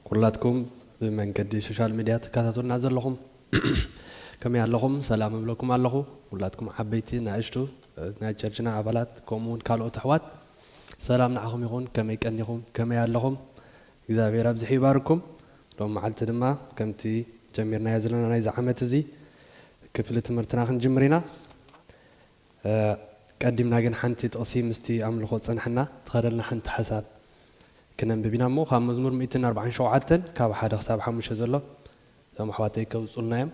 ኩላትኩም ብመንገዲ ሶሻል ሚድያ ትከታተሉና ዘለኹም ከመይ ኣለኹም ሰላም እብለኩም ኣለኹ ኩላትኩም ዓበይቲ ናእሽቱ ናይ ቸርችና ኣባላት ከምኡ ውን ካልኦት ኣሕዋት ሰላም ንዓኹም ይኹን ከመይ ቀኒኹም ከመይ ኣለኹም እግዚኣብሔር ኣብዚሑ ይባርኩም ሎም መዓልቲ ድማ ከምቲ ጀሚርናዮ ዘለና ናይዚ ዓመት እዚ ክፍሊ ትምህርትና ክንጅምር ኢና ቀዲምና ግን ሓንቲ ጥቕሲ ምስቲ ኣምልኾ ዝጸናሕና ትኸደልና ሓንቲ ሓሳብ ክነንብብ ኢና እሞ ካብ መዝሙር ሚእትን ኣርብዓን ሸውዓተን ካብ ሓደ ክሳብ ሓሙሽተ ዘሎ እዞም ኣሕዋተይ ከውጹልና እዮም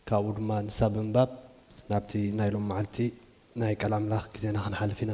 ካብኡ ድማ ንሳ ብምንባብ ናብቲ ናይ ሎም መዓልቲ ናይ ቃል ኣምላኽ ግዜና ክንሓልፍ ኢና።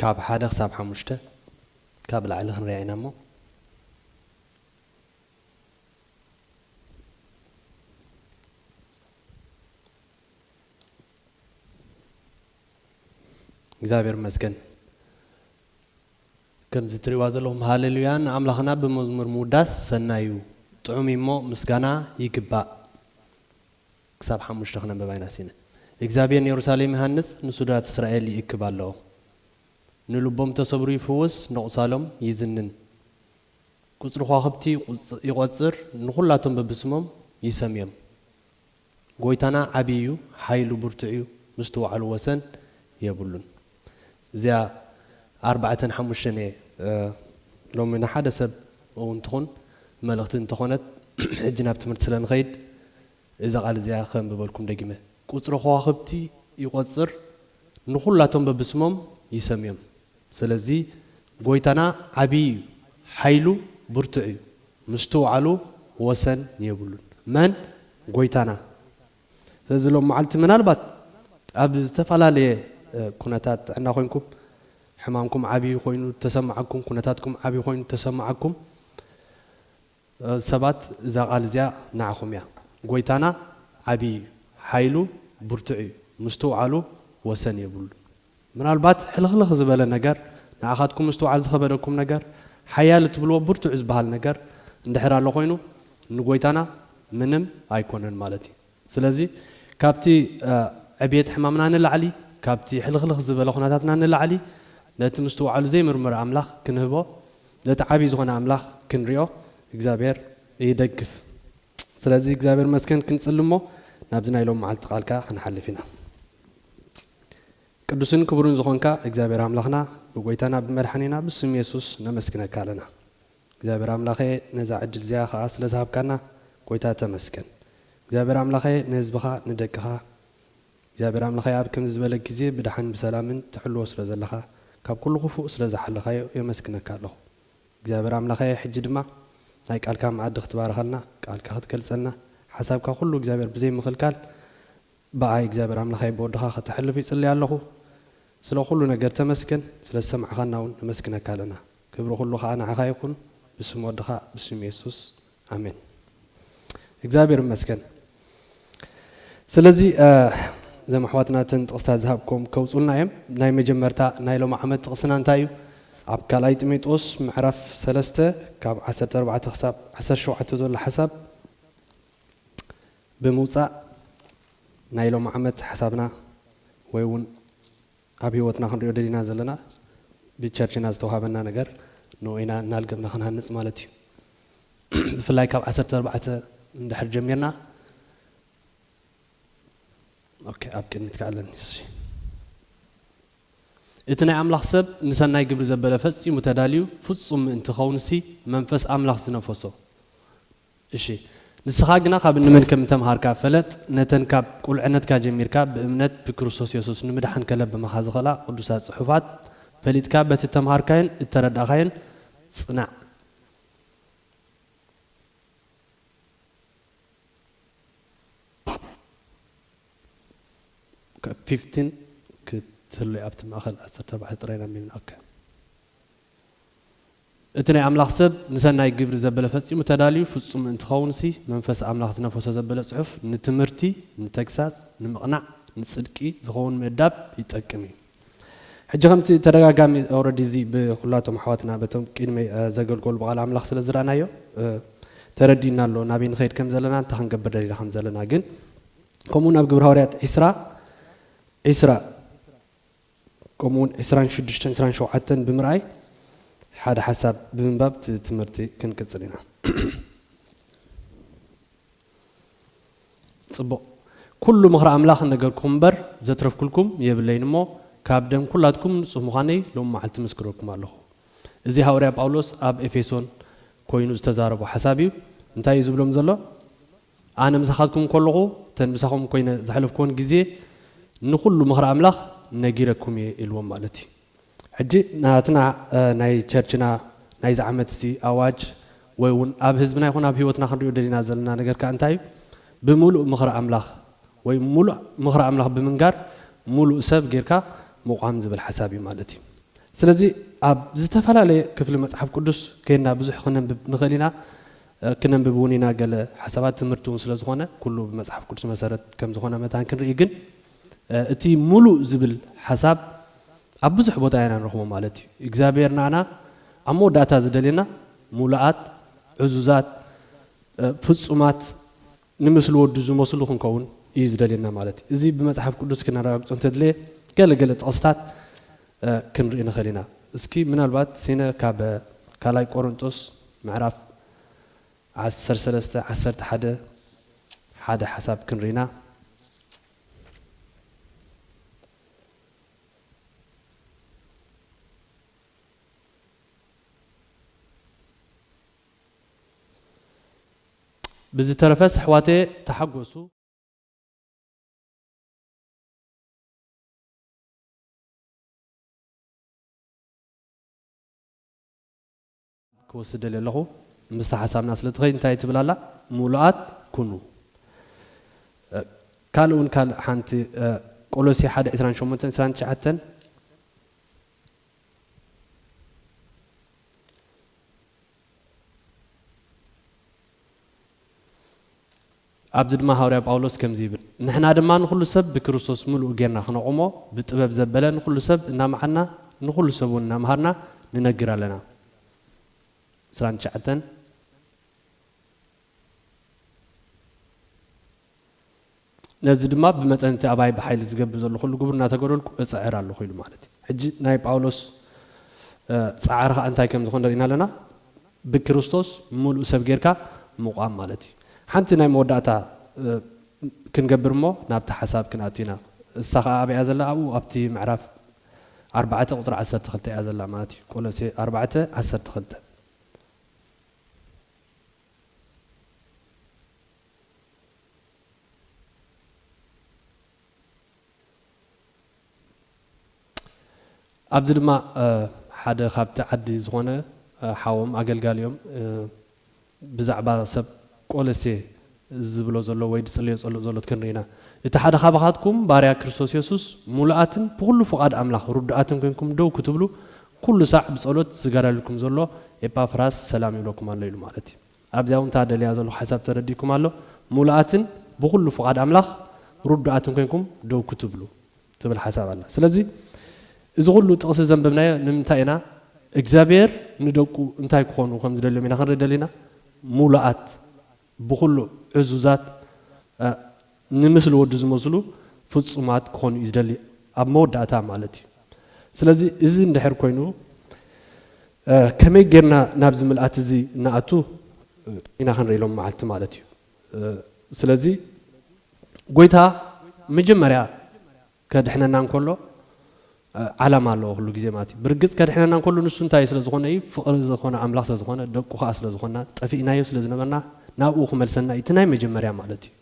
ካብ ሓደ ክሳብ ሓሙሽተ ካብ ላዕሊ ክንሪኣ ኢና እሞ። እግዚኣብሔር ይመስገን ከምዚ ትሪእዋ ዘለኹም ሃሌሉያ ንኣምላኽና ብመዝሙር ምውዳስ ሰናይ እዩ ጥዑም እዩ እሞ ምስጋና ይግባእ ክሳብ ሓሙሽተ ክነንብባ ኢና ሲነ እግዚኣብሔር ንየሩሳሌም ይሃንጽ ንሱዳት እስራኤል ይእክብ ኣሎኦም ንልቦም እተሰብሩ ይፍውስ ነቁሳሎም ይዝንን ቁጽሪ ኳክብቲ ይቆጽር ንኩላቶም በብስሞም ይሰምዮም ጎይታና ዓቢ እዩ ሓይሉ ብርቱዕ እዩ ምስትውዓሉ ወሰን የብሉን። እዚኣ ኣርባዕተን ሓሙሽተን እየ ሎሚ ንሓደ ሰብ እውን ትኹን መልእኽቲ እንተኾነት ሕጂ ናብ ትምህርቲ ስለ ንኸይድ እዛ ቃል እዚኣ ከንብበልኩም ደጊመ። ቁጽሪ ኸዋኽብቲ ይቆጽር ንኹላቶም በብስሞም ይሰምዮም ሰለዚ ጎይታና ዓብዪ እዩ ሓይሉ ብርቱዕ እዩ ምስትውዓሉ ወሰን የብሉን መን ጎይታና ስለዚ ሎም መዓልቲ ምናልባት ኣብ ዝተፈላለየ ኩነታት ጥዕና ኮይንኩም ሕማምኩም ዓብይ ኮይኑ ተሰማዓኩም ኩነታትኩም ዓብይ ኮይኑ ተሰማዓኩም ሰባት እዛ ቃል እዚኣ ናዓኹም እያ ጎይታና ዓብይ እዩ ሓይሉ ብርቱዕ እዩ ምስትውዓሉ ወሰን የብሉን። ምናልባት ሕልኽልኽ ዝበለ ነገር፣ ንዓኻትኩም ምስትውዓል ዝኸበደኩም ነገር፣ ሓያል እትብልዎ ብርቱዕ ዝበሃል ነገር እንድሕር ኣሎ ኮይኑ፣ ንጎይታና ምንም ኣይኮነን ማለት እዩ። ስለዚ ካብቲ ዕብየት ሕማምና ንላዕሊ፣ ካብቲ ሕልኽልኽ ዝበለ ኩነታትና ንላዕሊ፣ ነቲ ምስትውዓሉ ዘይምርመር ኣምላኽ ክንህቦ፣ ነቲ ዓብይ ዝኾነ ኣምላኽ ክንሪኦ እግዚኣብሔር ይደግፍ። ስለዚ እግዚኣብሔር ይመስገን ክንጽሊ እሞ ናብዚ ናይ ሎሚ መዓልቲ ቃል ከኣ ክንሓልፍ ኢና። ቅዱስን ክቡርን ዝኾንካ እግዚኣብሔር ኣምላኽና ብጎይታና ብመድሓኒና ብስም የሱስ ነመስግነካ ኣለና እግዚኣብሔር ኣምላኸ ነዛ ዕድል እዚኣ ኸኣ ስለ ዝሃብካና ጎይታ ተመስገን እግዚኣብሔር ኣምላኸ ንህዝብኻ ንደቅኻ እግዚኣብሔር ኣምላኸ ኣብ ከምዚ ዝበለ ግዜ ብድሓን ብሰላምን ትሕልዎ ስለ ዘለኻ ካብ ኩሉ ክፉእ ስለ ዝሓለኻዮ የመስግነካ ኣለኹ እግዚኣብሔር ኣምላኸ ሕጂ ድማ ናይ ቃልካ መኣዲ ክትባርኸልና ቃልካ ክትገልጸልና ሓሳብካ ኩሉ እግዚኣብሔር ብዘይ ምኽልካል ብኣይ እግዚኣብሔር ኣምላኸይ ብወድኻ ከተሕልፍ ይጽሊ ኣለኹ ስለ ኩሉ ነገር ተመስገን ስለ ዝሰማዕኻና እውን ነመስግነካ ኣለና ክብሪ ኩሉ ከኣ ንዓኻ ይኹን ብስም ወድኻ ብስም የሱስ ኣሜን እግዚኣብሔር ይመስገን ስለዚ እዘም ኣሕዋትና እተን ጥቕስታት ዝሃብኩም ከውፁልና እዮም ናይ መጀመርታ ናይ ሎም ዓመት ጥቕስና እንታይ እዩ ኣብ ካልኣይ ጢሞቴዎስ ምዕራፍ ሰለስተ ካብ ዓሰርተ ኣርባዕተ ክሳብ ዓሰርተ ሸውዓተ ዘሎ ሓሳብ ብምውጻእ ናይ ሎሚ ዓመት ሓሳብና ወይ ውን ኣብ ሂወትና ክንሪኦ ደሊና ዘለና ብቸርችና ዝተውሃበና ነገር ንኡ ኢና እናልገብና ክንሃንጽ ማለት እዩ። ብፍላይ ካብ ዓሰርተ ኣርባዕተ እንድሕር ጀሚርና ኦኬ ኣብ ቅድሚት ከኣ ኣለኒ እሺ እቲ ናይ ኣምላኽ ሰብ ንሰናይ ግብሪ ዘበለ ፈጺሙ ተዳልዩ ፍጹም ምእንቲ ክኸውንሲ መንፈስ ኣምላኽ ዝነፈሶ እሺ ንስኻ ግና ካብ እንመን ከም እተምሃርካ ፈለጥ፣ ነተን ካብ ቁልዕነትካ ጀሚርካ ብእምነት ብክርስቶስ የሱስ ንምድሓን ከለብማኻ ዝኽእላ ቅዱሳት ጽሑፋት ፈሊጥካ በቲ እተምሃርካዮን እተረዳእካዮን ጽናዕ። fifteen ክትህሉ እያ ኣብቲ ማእከል ዓሰርተ ኣርባዕተ ጥራይ ኢና ኣንቢብና ok። እቲ ናይ ኣምላኽ ሰብ ንሰናይ ግብሪ ዘበለ ፈጺሙ ተዳልዩ ፍጹም ምእንቲ ኪኸውንሲ፣ መንፈስ ኣምላኽ ዝነፈሶ ዘበለ ጽሑፍ ንትምህርቲ፣ ንተግሳጽ፣ ንምቕናዕ፣ ንጽድቂ ዚኸውን ምእዳብ ይጠቅም እዩ። ሕጂ ከምቲ ተደጋጋሚ ኦረዲ እዚ ብኩላቶም ኣሕዋትና በቶም ቂድመይ ዘገልገሉ ብቃል ኣምላኽ ስለ ዝረኣናዮ ተረዲኡና ኣሎ ናበይ ንኸይድ ከም ዘለና እንታይ ክንገብር ደሊና ከም ዘለና ግን ከምኡውን ኣብ ግብረ ሃዋርያት ዕስራ ዕስራ ከምኡ ውን ዕስራን ሽዱሽተን ዕስራን ሸውዓተን ብምርኣይ ሓደ ሓሳብ ብምንባብ እቲ ትምህርቲ ክንቅጽል ኢና። ጽቡቕ ኩሉ ምኽሪ ኣምላኽ ነገርኩም እምበር ዘትረፍኩልኩም የብለይን እሞ ካብ ደም ኩላትኩም ንጹህ ምዃነይ ሎሚ መዓልቲ እምስክረልኩም ኣለኹ። እዚ ሃውርያ ጳውሎስ ኣብ ኤፌሶን ኮይኑ ዝተዛረቦ ሓሳብ እዩ። እንታይ እዩ ዝብሎም ዘሎ? ኣነ ምሳኻትኩም ከለኹ እተን ምሳኹም ኮይነ ዘሕለፍክወን ግዜ ንኹሉ ምኽሪ ኣምላኽ ነጊረኩም እየ ኢልዎም ማለት እዩ። ሕጂ ናትና ናይ ቸርችና ናይዚ ዓመት እዚ ኣዋጅ ወይ እውን ኣብ ህዝብና ይኹን ኣብ ህይወትና ክንሪኦ ደሊና ዘለና ነገር ከኣ እንታይ እዩ? ብምሉእ ምኽሪ ኣምላኽ ወይ ምሉእ ምኽሪ ኣምላኽ ብምንጋር ምሉእ ሰብ ጌርካ ምቛም ዝብል ሓሳብ እዩ ማለት እዩ። ስለዚ ኣብ ዝተፈላለየ ክፍሊ መጽሓፍ ቅዱስ ኬንና ብዙሕ ክነንብብ ንኽእል ኢና። ክነንብብ እውን ኢና ገለ ሓሳባት ትምህርቲ እውን ስለ ዝኾነ ኩሉ ብመጽሓፍ ቅዱስ መሰረት ከም ዝኾነ መታን ክንርኢ ግን እቲ ምሉእ ዝብል ሓሳብ ኣብ ብዙሕ ቦታ ኢና ንረኽቦ ማለት እዩ እግዚኣብሔር ንኣና ኣብ መወዳእታ ዝደልየና ምሉኣት ዕዙዛት ፍጹማት ንምስሊ ወዱ ዝመስሉ ክንከውን እዩ ዝደልየና ማለት እዩ። እዚ ብመጽሓፍ ቅዱስ ክነረጋግጾ እንተድለየ ገለ ገለ ጥቕስታት ክንርኢ ንኽእል ኢና። እስኪ ምናልባት ሲነ ካብ ካልኣይ ቆሮንጦስ ምዕራፍ ዓሰርተ ሰለስተ ዓሰርተ ሓደ ሓደ ሓሳብ ክንርኢ ኢና። ብዝተረፈስ ኣሕዋተየ ተሓጎሱ። ክወስድ ደልየ ኣለኹ ምስታ ሓሳብና ስለ ትኸይድ እንታይ ትብል ኣላ ምሉኣት ኩኑ ካልእ ውን ካልእ ሓንቲ ቆሎሴ ሓደ ዕስራን ሸሞንተን ዕስራን ትሽዓተን ኣብዚ ድማ ሃዋርያ ጳውሎስ ከምዚ ይብል፣ ንሕና ድማ ንዅሉ ሰብ ብክርስቶስ ምሉእ ጌርና ክነቝሞ፣ ብጥበብ ዘበለ ንዅሉ ሰብ እናመሓርና፣ ንዅሉ ሰብ እውን እናመሃርና ንነግር ኣለና። ዕስራን ትሽዓተን። ነዚ ድማ ብመጠን እቲ ኣባይ ብሓይሊ ዝገብር ዘሎ ኩሉ ግብር እናተገደልኩ እጽዕር ኣሎኹ ኢሉ ማለት እዩ። ሕጂ ናይ ጳውሎስ ጻዕሪ ከኣ እንታይ ከም ዝኾነ ርኢና ኣለና። ብክርስቶስ ምሉእ ሰብ ጌርካ ምቛም ማለት እዩ። ሓንቲ ናይ መወዳእታ ክንገብር እሞ ናብቲ ሓሳብ ክንኣቱ ኢና። እሳ ከኣ ኣበይ እያ ዘላ ኣብኡ ኣብቲ ምዕራፍ ኣርባዕተ ቁጽሪ ዓሰርተ ክልተ እያ ዘላ ማለት እዩ። ቆሎሴ ኣርባዕተ ዓሰርተ ክልተ። ኣብዚ ድማ ሓደ ካብቲ ዓዲ ዝኾነ ሓዎም ኣገልጋሊኦም ብዛዕባ ሰብ ቆለሴ ዝብሎ ዘሎ ወይ ዝጽልዮ ጸሎት ዘሎ ክንርኢ ኢና። እቲ ሓደ ካባኻትኩም ባርያ ክርስቶስ የሱስ ምሉኣትን ብኹሉ ፍቓድ ኣምላኽ ርዱኣትን ኮይንኩም ደው ክትብሉ ኩሉ ሳዕ ብጸሎት ዝጋዳለልኩም ዘሎ ኤጳፍራስ ሰላም ይብለኩም ኣሎ ኢሉ ማለት እዩ። ኣብዚኣ እውን እታ ደልያ ዘለኹ ሓሳብ ተረዲእኩም ኣሎ፣ ምሉኣትን ብኹሉ ፍቓድ ኣምላኽ ርዱኣትን ኮይንኩም ደው ክትብሉ ትብል ሓሳብ ኣላ። ስለዚ እዚ ኩሉ ጥቕሲ ዘንበብናዮ ንምንታይ ኢና? እግዚኣብሄር ንደቁ እንታይ ክኾኑ ከም ዝደልዮም ኢና ክንርኢ ደሊና፣ ምሉኣት፣ ብኹሉ ዕዙዛት፣ ንምስሊ ወዱ ዝመስሉ ፍጹማት ክኾኑ እዩ ዝደሊ ኣብ መወዳእታ ማለት እዩ ስለዚ እዚ እንድሕር ኮይኑ ከመይ ጌርና ናብዚ ምልኣት እዚ ንኣቱ ኢና ክንርኢ ሎም መዓልቲ ማለት እዩ ስለዚ ጎይታ መጀመርያ ከድሕነና እንከሎ ዓላማ ኣለዎ ኩሉ ግዜ ማለት እዩ። ብርግጽ ከድሕነና እንከሎ ንሱ እንታይ ስለ ዝኾነ እዩ፣ ፍቕሪ ዝኾነ ኣምላኽ ስለ ዝኾነ፣ ደቁ ከኣ ስለ ዝኾንና፣ ጠፊእናዮ ስለ ዝነበርና ናብኡ ክመልሰና እዩ፣ እቲ ናይ መጀመርያ ማለት እዩ።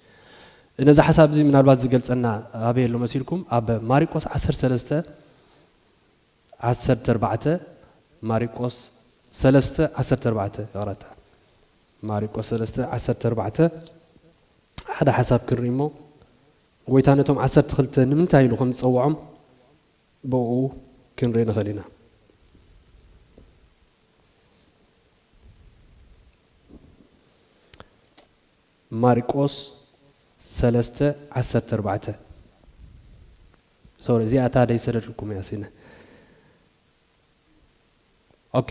ነዚ ሓሳብ እዚ ምናልባት ዝገልጸና ኣበይ ኣሎ መሲልኩም፣ ኣብ ማሪቆስ ዓሰርተ ሰለስተ ዓሰርተ ኣርባዕተ ማሪቆስ ሰለስተ ዓሰርተ ኣርባዕተ ይቕረታ ማሪቆስ ሰለስተ ዓሰርተ ኣርባዕተ ሓደ ሓሳብ ክንርኢ እሞ ጐይታ ነቶም ዓሰርተ ክልተ ንምንታይ ኢሉ ኸም ዝጸውዖም ብእኡ ክንርኢ ንኽእል ኢና። ማርቆስ ሰለስተ ዓሰርተ ኣርባዕተ ሶሪ እዚኣ እታ ደይሰደድልኩም እያ ሲነ ኦኬ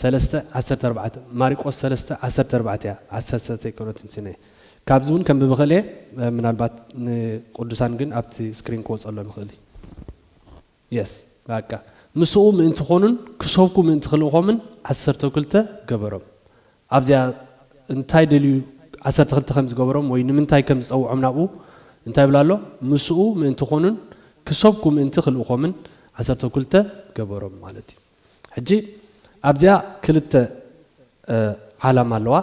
ሰለስተ ዓሰርተ ኣርባዕተ፣ ማሪቆስ ሰለስተ ዓሰርተ ኣርባዕተ እያ፣ ዓሰርተ ዘይኮነትን ስነ ካብዚ ውን ከንብብ ይኽእል እየ ምናልባት ንቅዱሳን ግን ኣብቲ ስክሪን ክወጸሎ ንኽእል እዩ የስ በቃ ምስኡ ምእንቲ ኮኑን ክሰብኩ ምእንቲ ክልእኾምን ዓሰርተ ክልተ ገበሮም ኣብዚኣ እንታይ ደልዩ ዓሰርተ ክልተ ከም ዝገበሮም ወይ ንምንታይ ከም ዝጸውዖም ናብኡ እንታይ ይብል ኣሎ ምስኡ ምእንቲ ኮኑን ክሰብኩ ምእንቲ ክልእኮምን ዓሰርተ ክልተ ገበሮም ማለት እዩ ሕጂ ኣብዚኣ ክልተ ዓላማ ኣለዋ።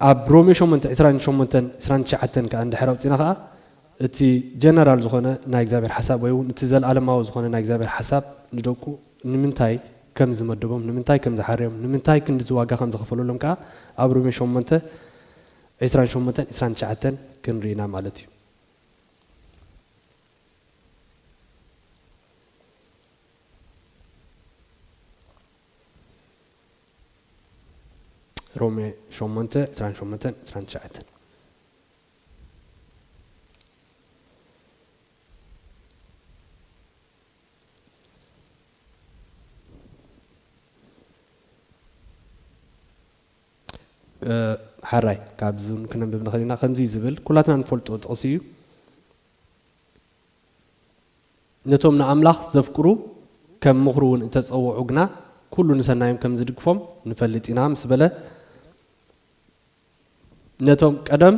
ኣብ ሮሜ ሸሞንተ ዕስራን ሸሞንተን ዕስራን ትሽዓተን ከኣ እንድሕር ኣውጺእና ከኣ እቲ ጀነራል ዝኾነ ናይ እግዚኣብሔር ሓሳብ ወይ እውን እቲ ዘለዓለማዊ ዝኾነ ናይ እግዚኣብሔር ሓሳብ ንደቁ ንምንታይ ከም ዝመደቦም ንምንታይ ከም ዝሓረዮም ንምንታይ ክንድዚ ዋጋ ከም ዝኸፈለሎም ከኣ ኣብ ሮሜ ሸሞንተ ዕስራን ሸሞንተን ዕስራን ትሽዓተን ክንርኢ ኢና ማለት እዩ። ሮሜ ሸሞንተ ዕስራን ሸሞንተን ዕስራን ትሽዓተን ሓራይ ካብዚ ክነንብብ ንኽእል ኢና ከምዚ ዝብል ኩላትና ንፈልጦ ጥቕሲ እዩ ነቶም ንኣምላኽ ዘፍቅሩ ከም ምኽሩ ውን እተጸውዑ ግና ኩሉ ንሰናዮም ከም ዝድግፎም ንፈልጥ ኢና ምስ በለ ነቶም ቀደም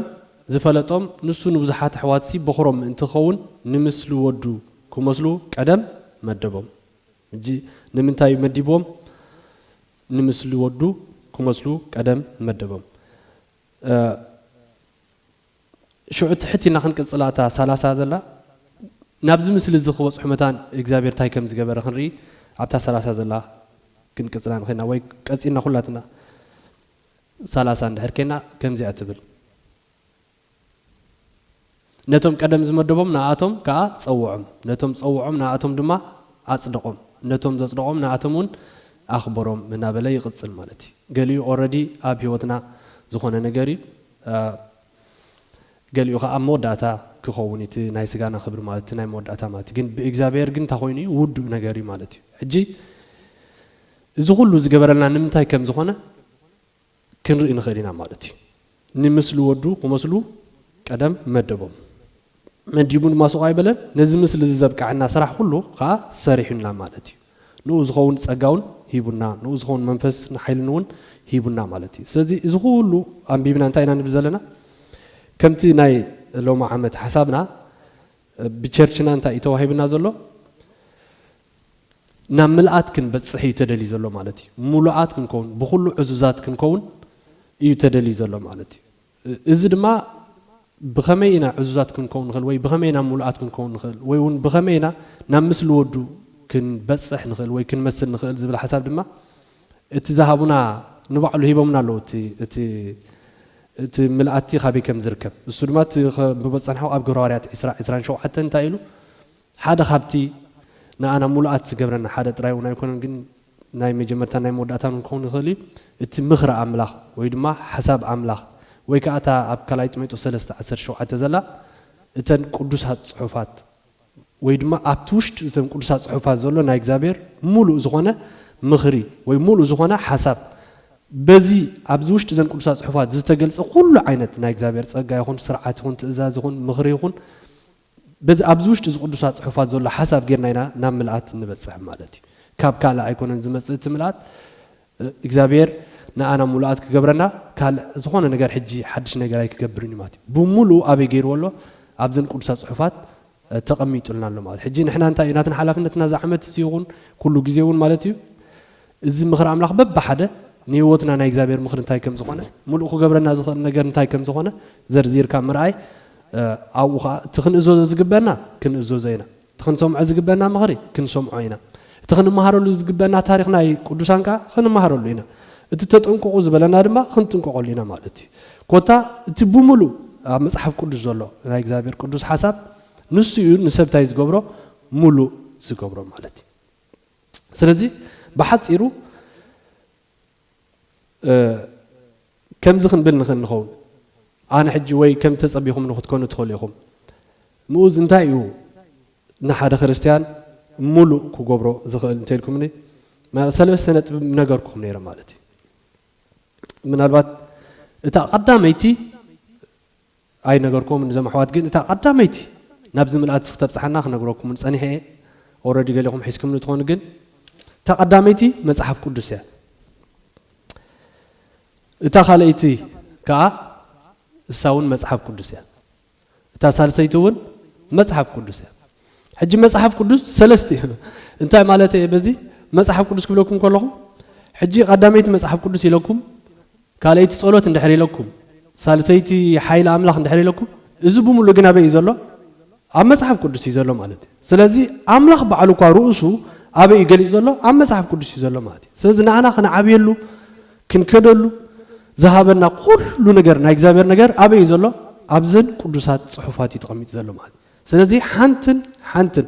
ዝፈለጦም ንሱ ንብዙሓት ኣሕዋትሲ በኹሮም ምእንቲ ክኸውን ንምስሊ ወዱ ክመስሉ ቀደም መደቦም። እጂ ንምንታይ እዩ መዲብዎም ንምስሊ ወዱ ክመስሉ ቀደም መደቦም። ሽዑ ትሕት ኢልና ክንቅጽላ እታ ሰላሳ ዘላ ናብዚ ምስሊ እዚ ክበጽሑ መታን እግዚኣብሄር ታይ ከም ዝገበረ ክንርኢ ኣብታ ሰላሳ ዘላ ክንቅጽላ ንክእል ኢና ወይ ቀጺልና ኩላትና ሰላሳ እንድሕር ኴንና ከምዚኣ ትብል ነቶም ቀደም ዝመደቦም ንኣቶም ከኣ ጸውዖም ነቶም ዝጸውዖም ንኣቶም ድማ ኣጽደቖም ነቶም ዘጽደቖም ንኣቶም እውን ኣኽበሮም እናበለ ይቕጽል ማለት እዩ ገሊኡ ኦረዲ ኣብ ህይወትና ዝኾነ ነገር እዩ ገሊኡ ከኣ ኣብ መወዳእታ ክኸውን እቲ ናይ ስጋና ክብሪ ማለት እቲ ናይ መወዳእታ ማለት እዩ ግን ብእግዚኣብሔር ግን እንታይ ኮይኑ እዩ ውዱእ ነገር እዩ ማለት እዩ ሕጂ እዚ ኩሉ ዝገበረልና ንምንታይ ከም ዝኾነ ክንርኢ ንኽእል ኢና ማለት እዩ ንምስሊ ወዱ ክመስሉ ቀደም መደቦም መዲቡ ድማ ሱቕ ኣይበለን፣ ነዚ ምስሊ እዚ ዘብቅዐና ስራሕ ዅሉ ኸኣ ሰሪሑልና ማለት እዩ። ንእኡ ዚኸውን ጸጋ እውን ሂቡና፣ ንእኡ ዚኸውን መንፈስ ንሓይልን እውን ሂቡና ማለት እዩ። ስለዚ እዚ ዅሉ ኣንቢብና እንታይ ኢና ንብል ዘለና? ከምቲ ናይ ሎሚ ዓመት ሓሳብና ብቸርችና እንታይ እዩ ተዋሂቡና ዘሎ? ናብ ምልኣት ክንበጽሕ እዩ ተደልዩ ዘሎ ማለት እዩ። ምሉኣት ክንከውን፣ ብዅሉ ዕዙዛት ክንከውን እዩ ተደልዩ ዘሎ ማለት እዩ። እዚ ድማ ብኸመይ ኢና ዕዙዛት ክንከውን ንኽእል ወይ ብኸመይ ኢና ምሉኣት ክንከውን ንኽእል ወይ እውን ብኸመይ ኢና ናብ ምስሊ ወዱ ክንበጽሕ ንኽእል ወይ ክንመስል ንኽእል ዝብል ሓሳብ ድማ እቲ ዝሃቡና ንባዕሉ ሂቦምና ኣለዉ እቲ እቲ እቲ ምልኣቲ ካበይ ከም ዝርከብ እሱ ድማ እቲ ብበጽሕናኹ ኣብ ግብረ ሃዋርያት ዕስራ ዕስራን ሸውዓተን እንታይ ኢሉ ሓደ ካብቲ ንኣና ምሉኣት ዝገብረና ሓደ ጥራይ እውን ኣይኮነን ግን ናይ መጀመርታን ናይ መወዳእታን እውን ክኸውን ይኽእል እዩ እቲ ምኽሪ ኣምላኽ ወይ ድማ ሓሳብ ኣምላኽ ወይ ከኣ እታ ኣብ ካልኣይ ጢሞቴዎስ ሰለስተ ዓሰርተ ሸውዓተ ዘላ እተን ቅዱሳት ጽሑፋት ወይ ድማ ኣብቲ ውሽጢ እተን ቅዱሳት ጽሑፋት ዘሎ ናይ እግዚኣብሔር ምሉእ ዝኾነ ምኽሪ ወይ ምሉእ ዝኾነ ሓሳብ በዚ ኣብዚ ውሽጢ እዘን ቅዱሳት ጽሑፋት ዝተገልጸ ኩሉ ዓይነት ናይ እግዚኣብሔር ጸጋ ይኹን ስርዓት ይኹን ትእዛዝ ይኹን ምኽሪ ይኹን በዚ ኣብዚ ውሽጢ እዚ ቅዱሳት ጽሑፋት ዘሎ ሓሳብ ጌርና ኢና ናብ ምልኣት እንበጽሕ ማለት እዩ። ካብ ካልእ ኣይኮነን ዝመጽእ እቲ ምልኣት እግዚኣብሔር ንኣና ምሉኣት ክገብረና ካልእ ዝኾነ ነገር ሕጂ ሓድሽ ነገር ኣይክገብርን እዩ ማለት እዩ። ብምሉኡ ኣበይ ጌርዎ ኣሎ ኣብዘን ቅዱሳት ጽሑፋት ተቐሚጡልና ኣሎ ማለት እዩ። ሕጂ ንሕና እንታይ እዩ ናትና ሓላፍነትና እዚ ዓመት እዚ ይኹን ኩሉ ግዜ እውን ማለት እዩ እዚ ምኽሪ ኣምላኽ በብሓደ ንህይወትና ናይ እግዚኣብሔር ምኽሪ እንታይ ከም ዝኾነ፣ ምሉእ ክገብረና ዝኽእል ነገር እንታይ ከም ዝኾነ ዘርዚርካ ምርኣይ ኣብኡ ከኣ እቲ ክንእዘዞ ዝግበና ክንእዘዞ ኢና። እቲ ክንሰምዖ ዝግበና ምኽሪ ክንሰምዖ ኢና። እቲ ክንመሃረሉ ዝግበና ታሪኽ ናይ ቅዱሳን ከኣ ክንመሃረሉ ኢና። እቲ ተጠንቀቑ ዝበለና ድማ ክንጥንቀቐሉ ኢና ማለት እዩ። ኮታ እቲ ብምሉእ ኣብ መጽሓፍ ቅዱስ ዘሎ ናይ እግዚኣብሔር ቅዱስ ሓሳብ ንሱ እዩ ንሰብ እንታይ ዝገብሮ ምሉእ ዝገብሮ ማለት እዩ። ስለዚ ብሓጺሩ ከምዚ ክንብል ንኽእል ንኸውን ኣነ ሕጂ ወይ ከም ተጸቢኹም ንክትኮኑ ትኽእሉ ኢኹም ምኡዝ እንታይ እዩ ንሓደ ክርስትያን ሙሉእ ክገብሮ ዝኽእል እንተልኩምኒ ሰለስተ ነጥቢ ነገርኩም ነይረ ማለት እዩ ምናልባት እታ ቀዳመይቲ ኣይነገርኩዎምን እዞም ኣሕዋት ግን እታ ቀዳመይቲ ናብዚ ምልኣት ክተብጽሓና ክነግረኩም ውን ጸኒሐ እየ ኦረዲ ገሊኹም ሒዝክምኒ ትኾኑ ግን እታ ቀዳመይቲ መጽሓፍ ቅዱስ እያ እታ ካልኣይቲ ከኣ እሳ ውን መጽሓፍ ቅዱስ እያ እታ ሳልሰይቲ ውን መጽሓፍ ቅዱስ እያ ሕጂ መጽሓፍ ቅዱስ ሰለስተ እዩ እንታይ ማለት እየ በዚ መጽሓፍ ቅዱስ ክብለኩም ከለኹ ሕጂ ቀዳመይቲ መጽሓፍ ቅዱስ ኢለኩም ካልኣይቲ ጸሎት እንድሕር ኢለኩም፣ ሳልሰይቲ ሓይሊ ኣምላኽ እንድሕር ኢለኩም፣ እዚ ብምሉኡ ግን ኣበይ እዩ ዘሎ? ኣብ መጽሓፍ ቅዱስ እዩ ዘሎ ማለት እዩ። ስለዚ ኣምላኽ ባዕሉ እኳ ርእሱ ኣበይ እዩ ገሊጹ ዘሎ? ኣብ መጽሓፍ ቅዱስ እዩ ዘሎ ማለት እዩ። ስለዚ ንኣና ክንዓብየሉ፣ ክንከደሉ ዝሃበና ኩሉ ነገር ናይ እግዚኣብሔር ነገር ኣበይ እዩ ዘሎ? ኣብዘን ቅዱሳት ጽሑፋት እዩ ተቐሚጡ ዘሎ ማለት እዩ። ስለዚ ሓንትን ሓንትን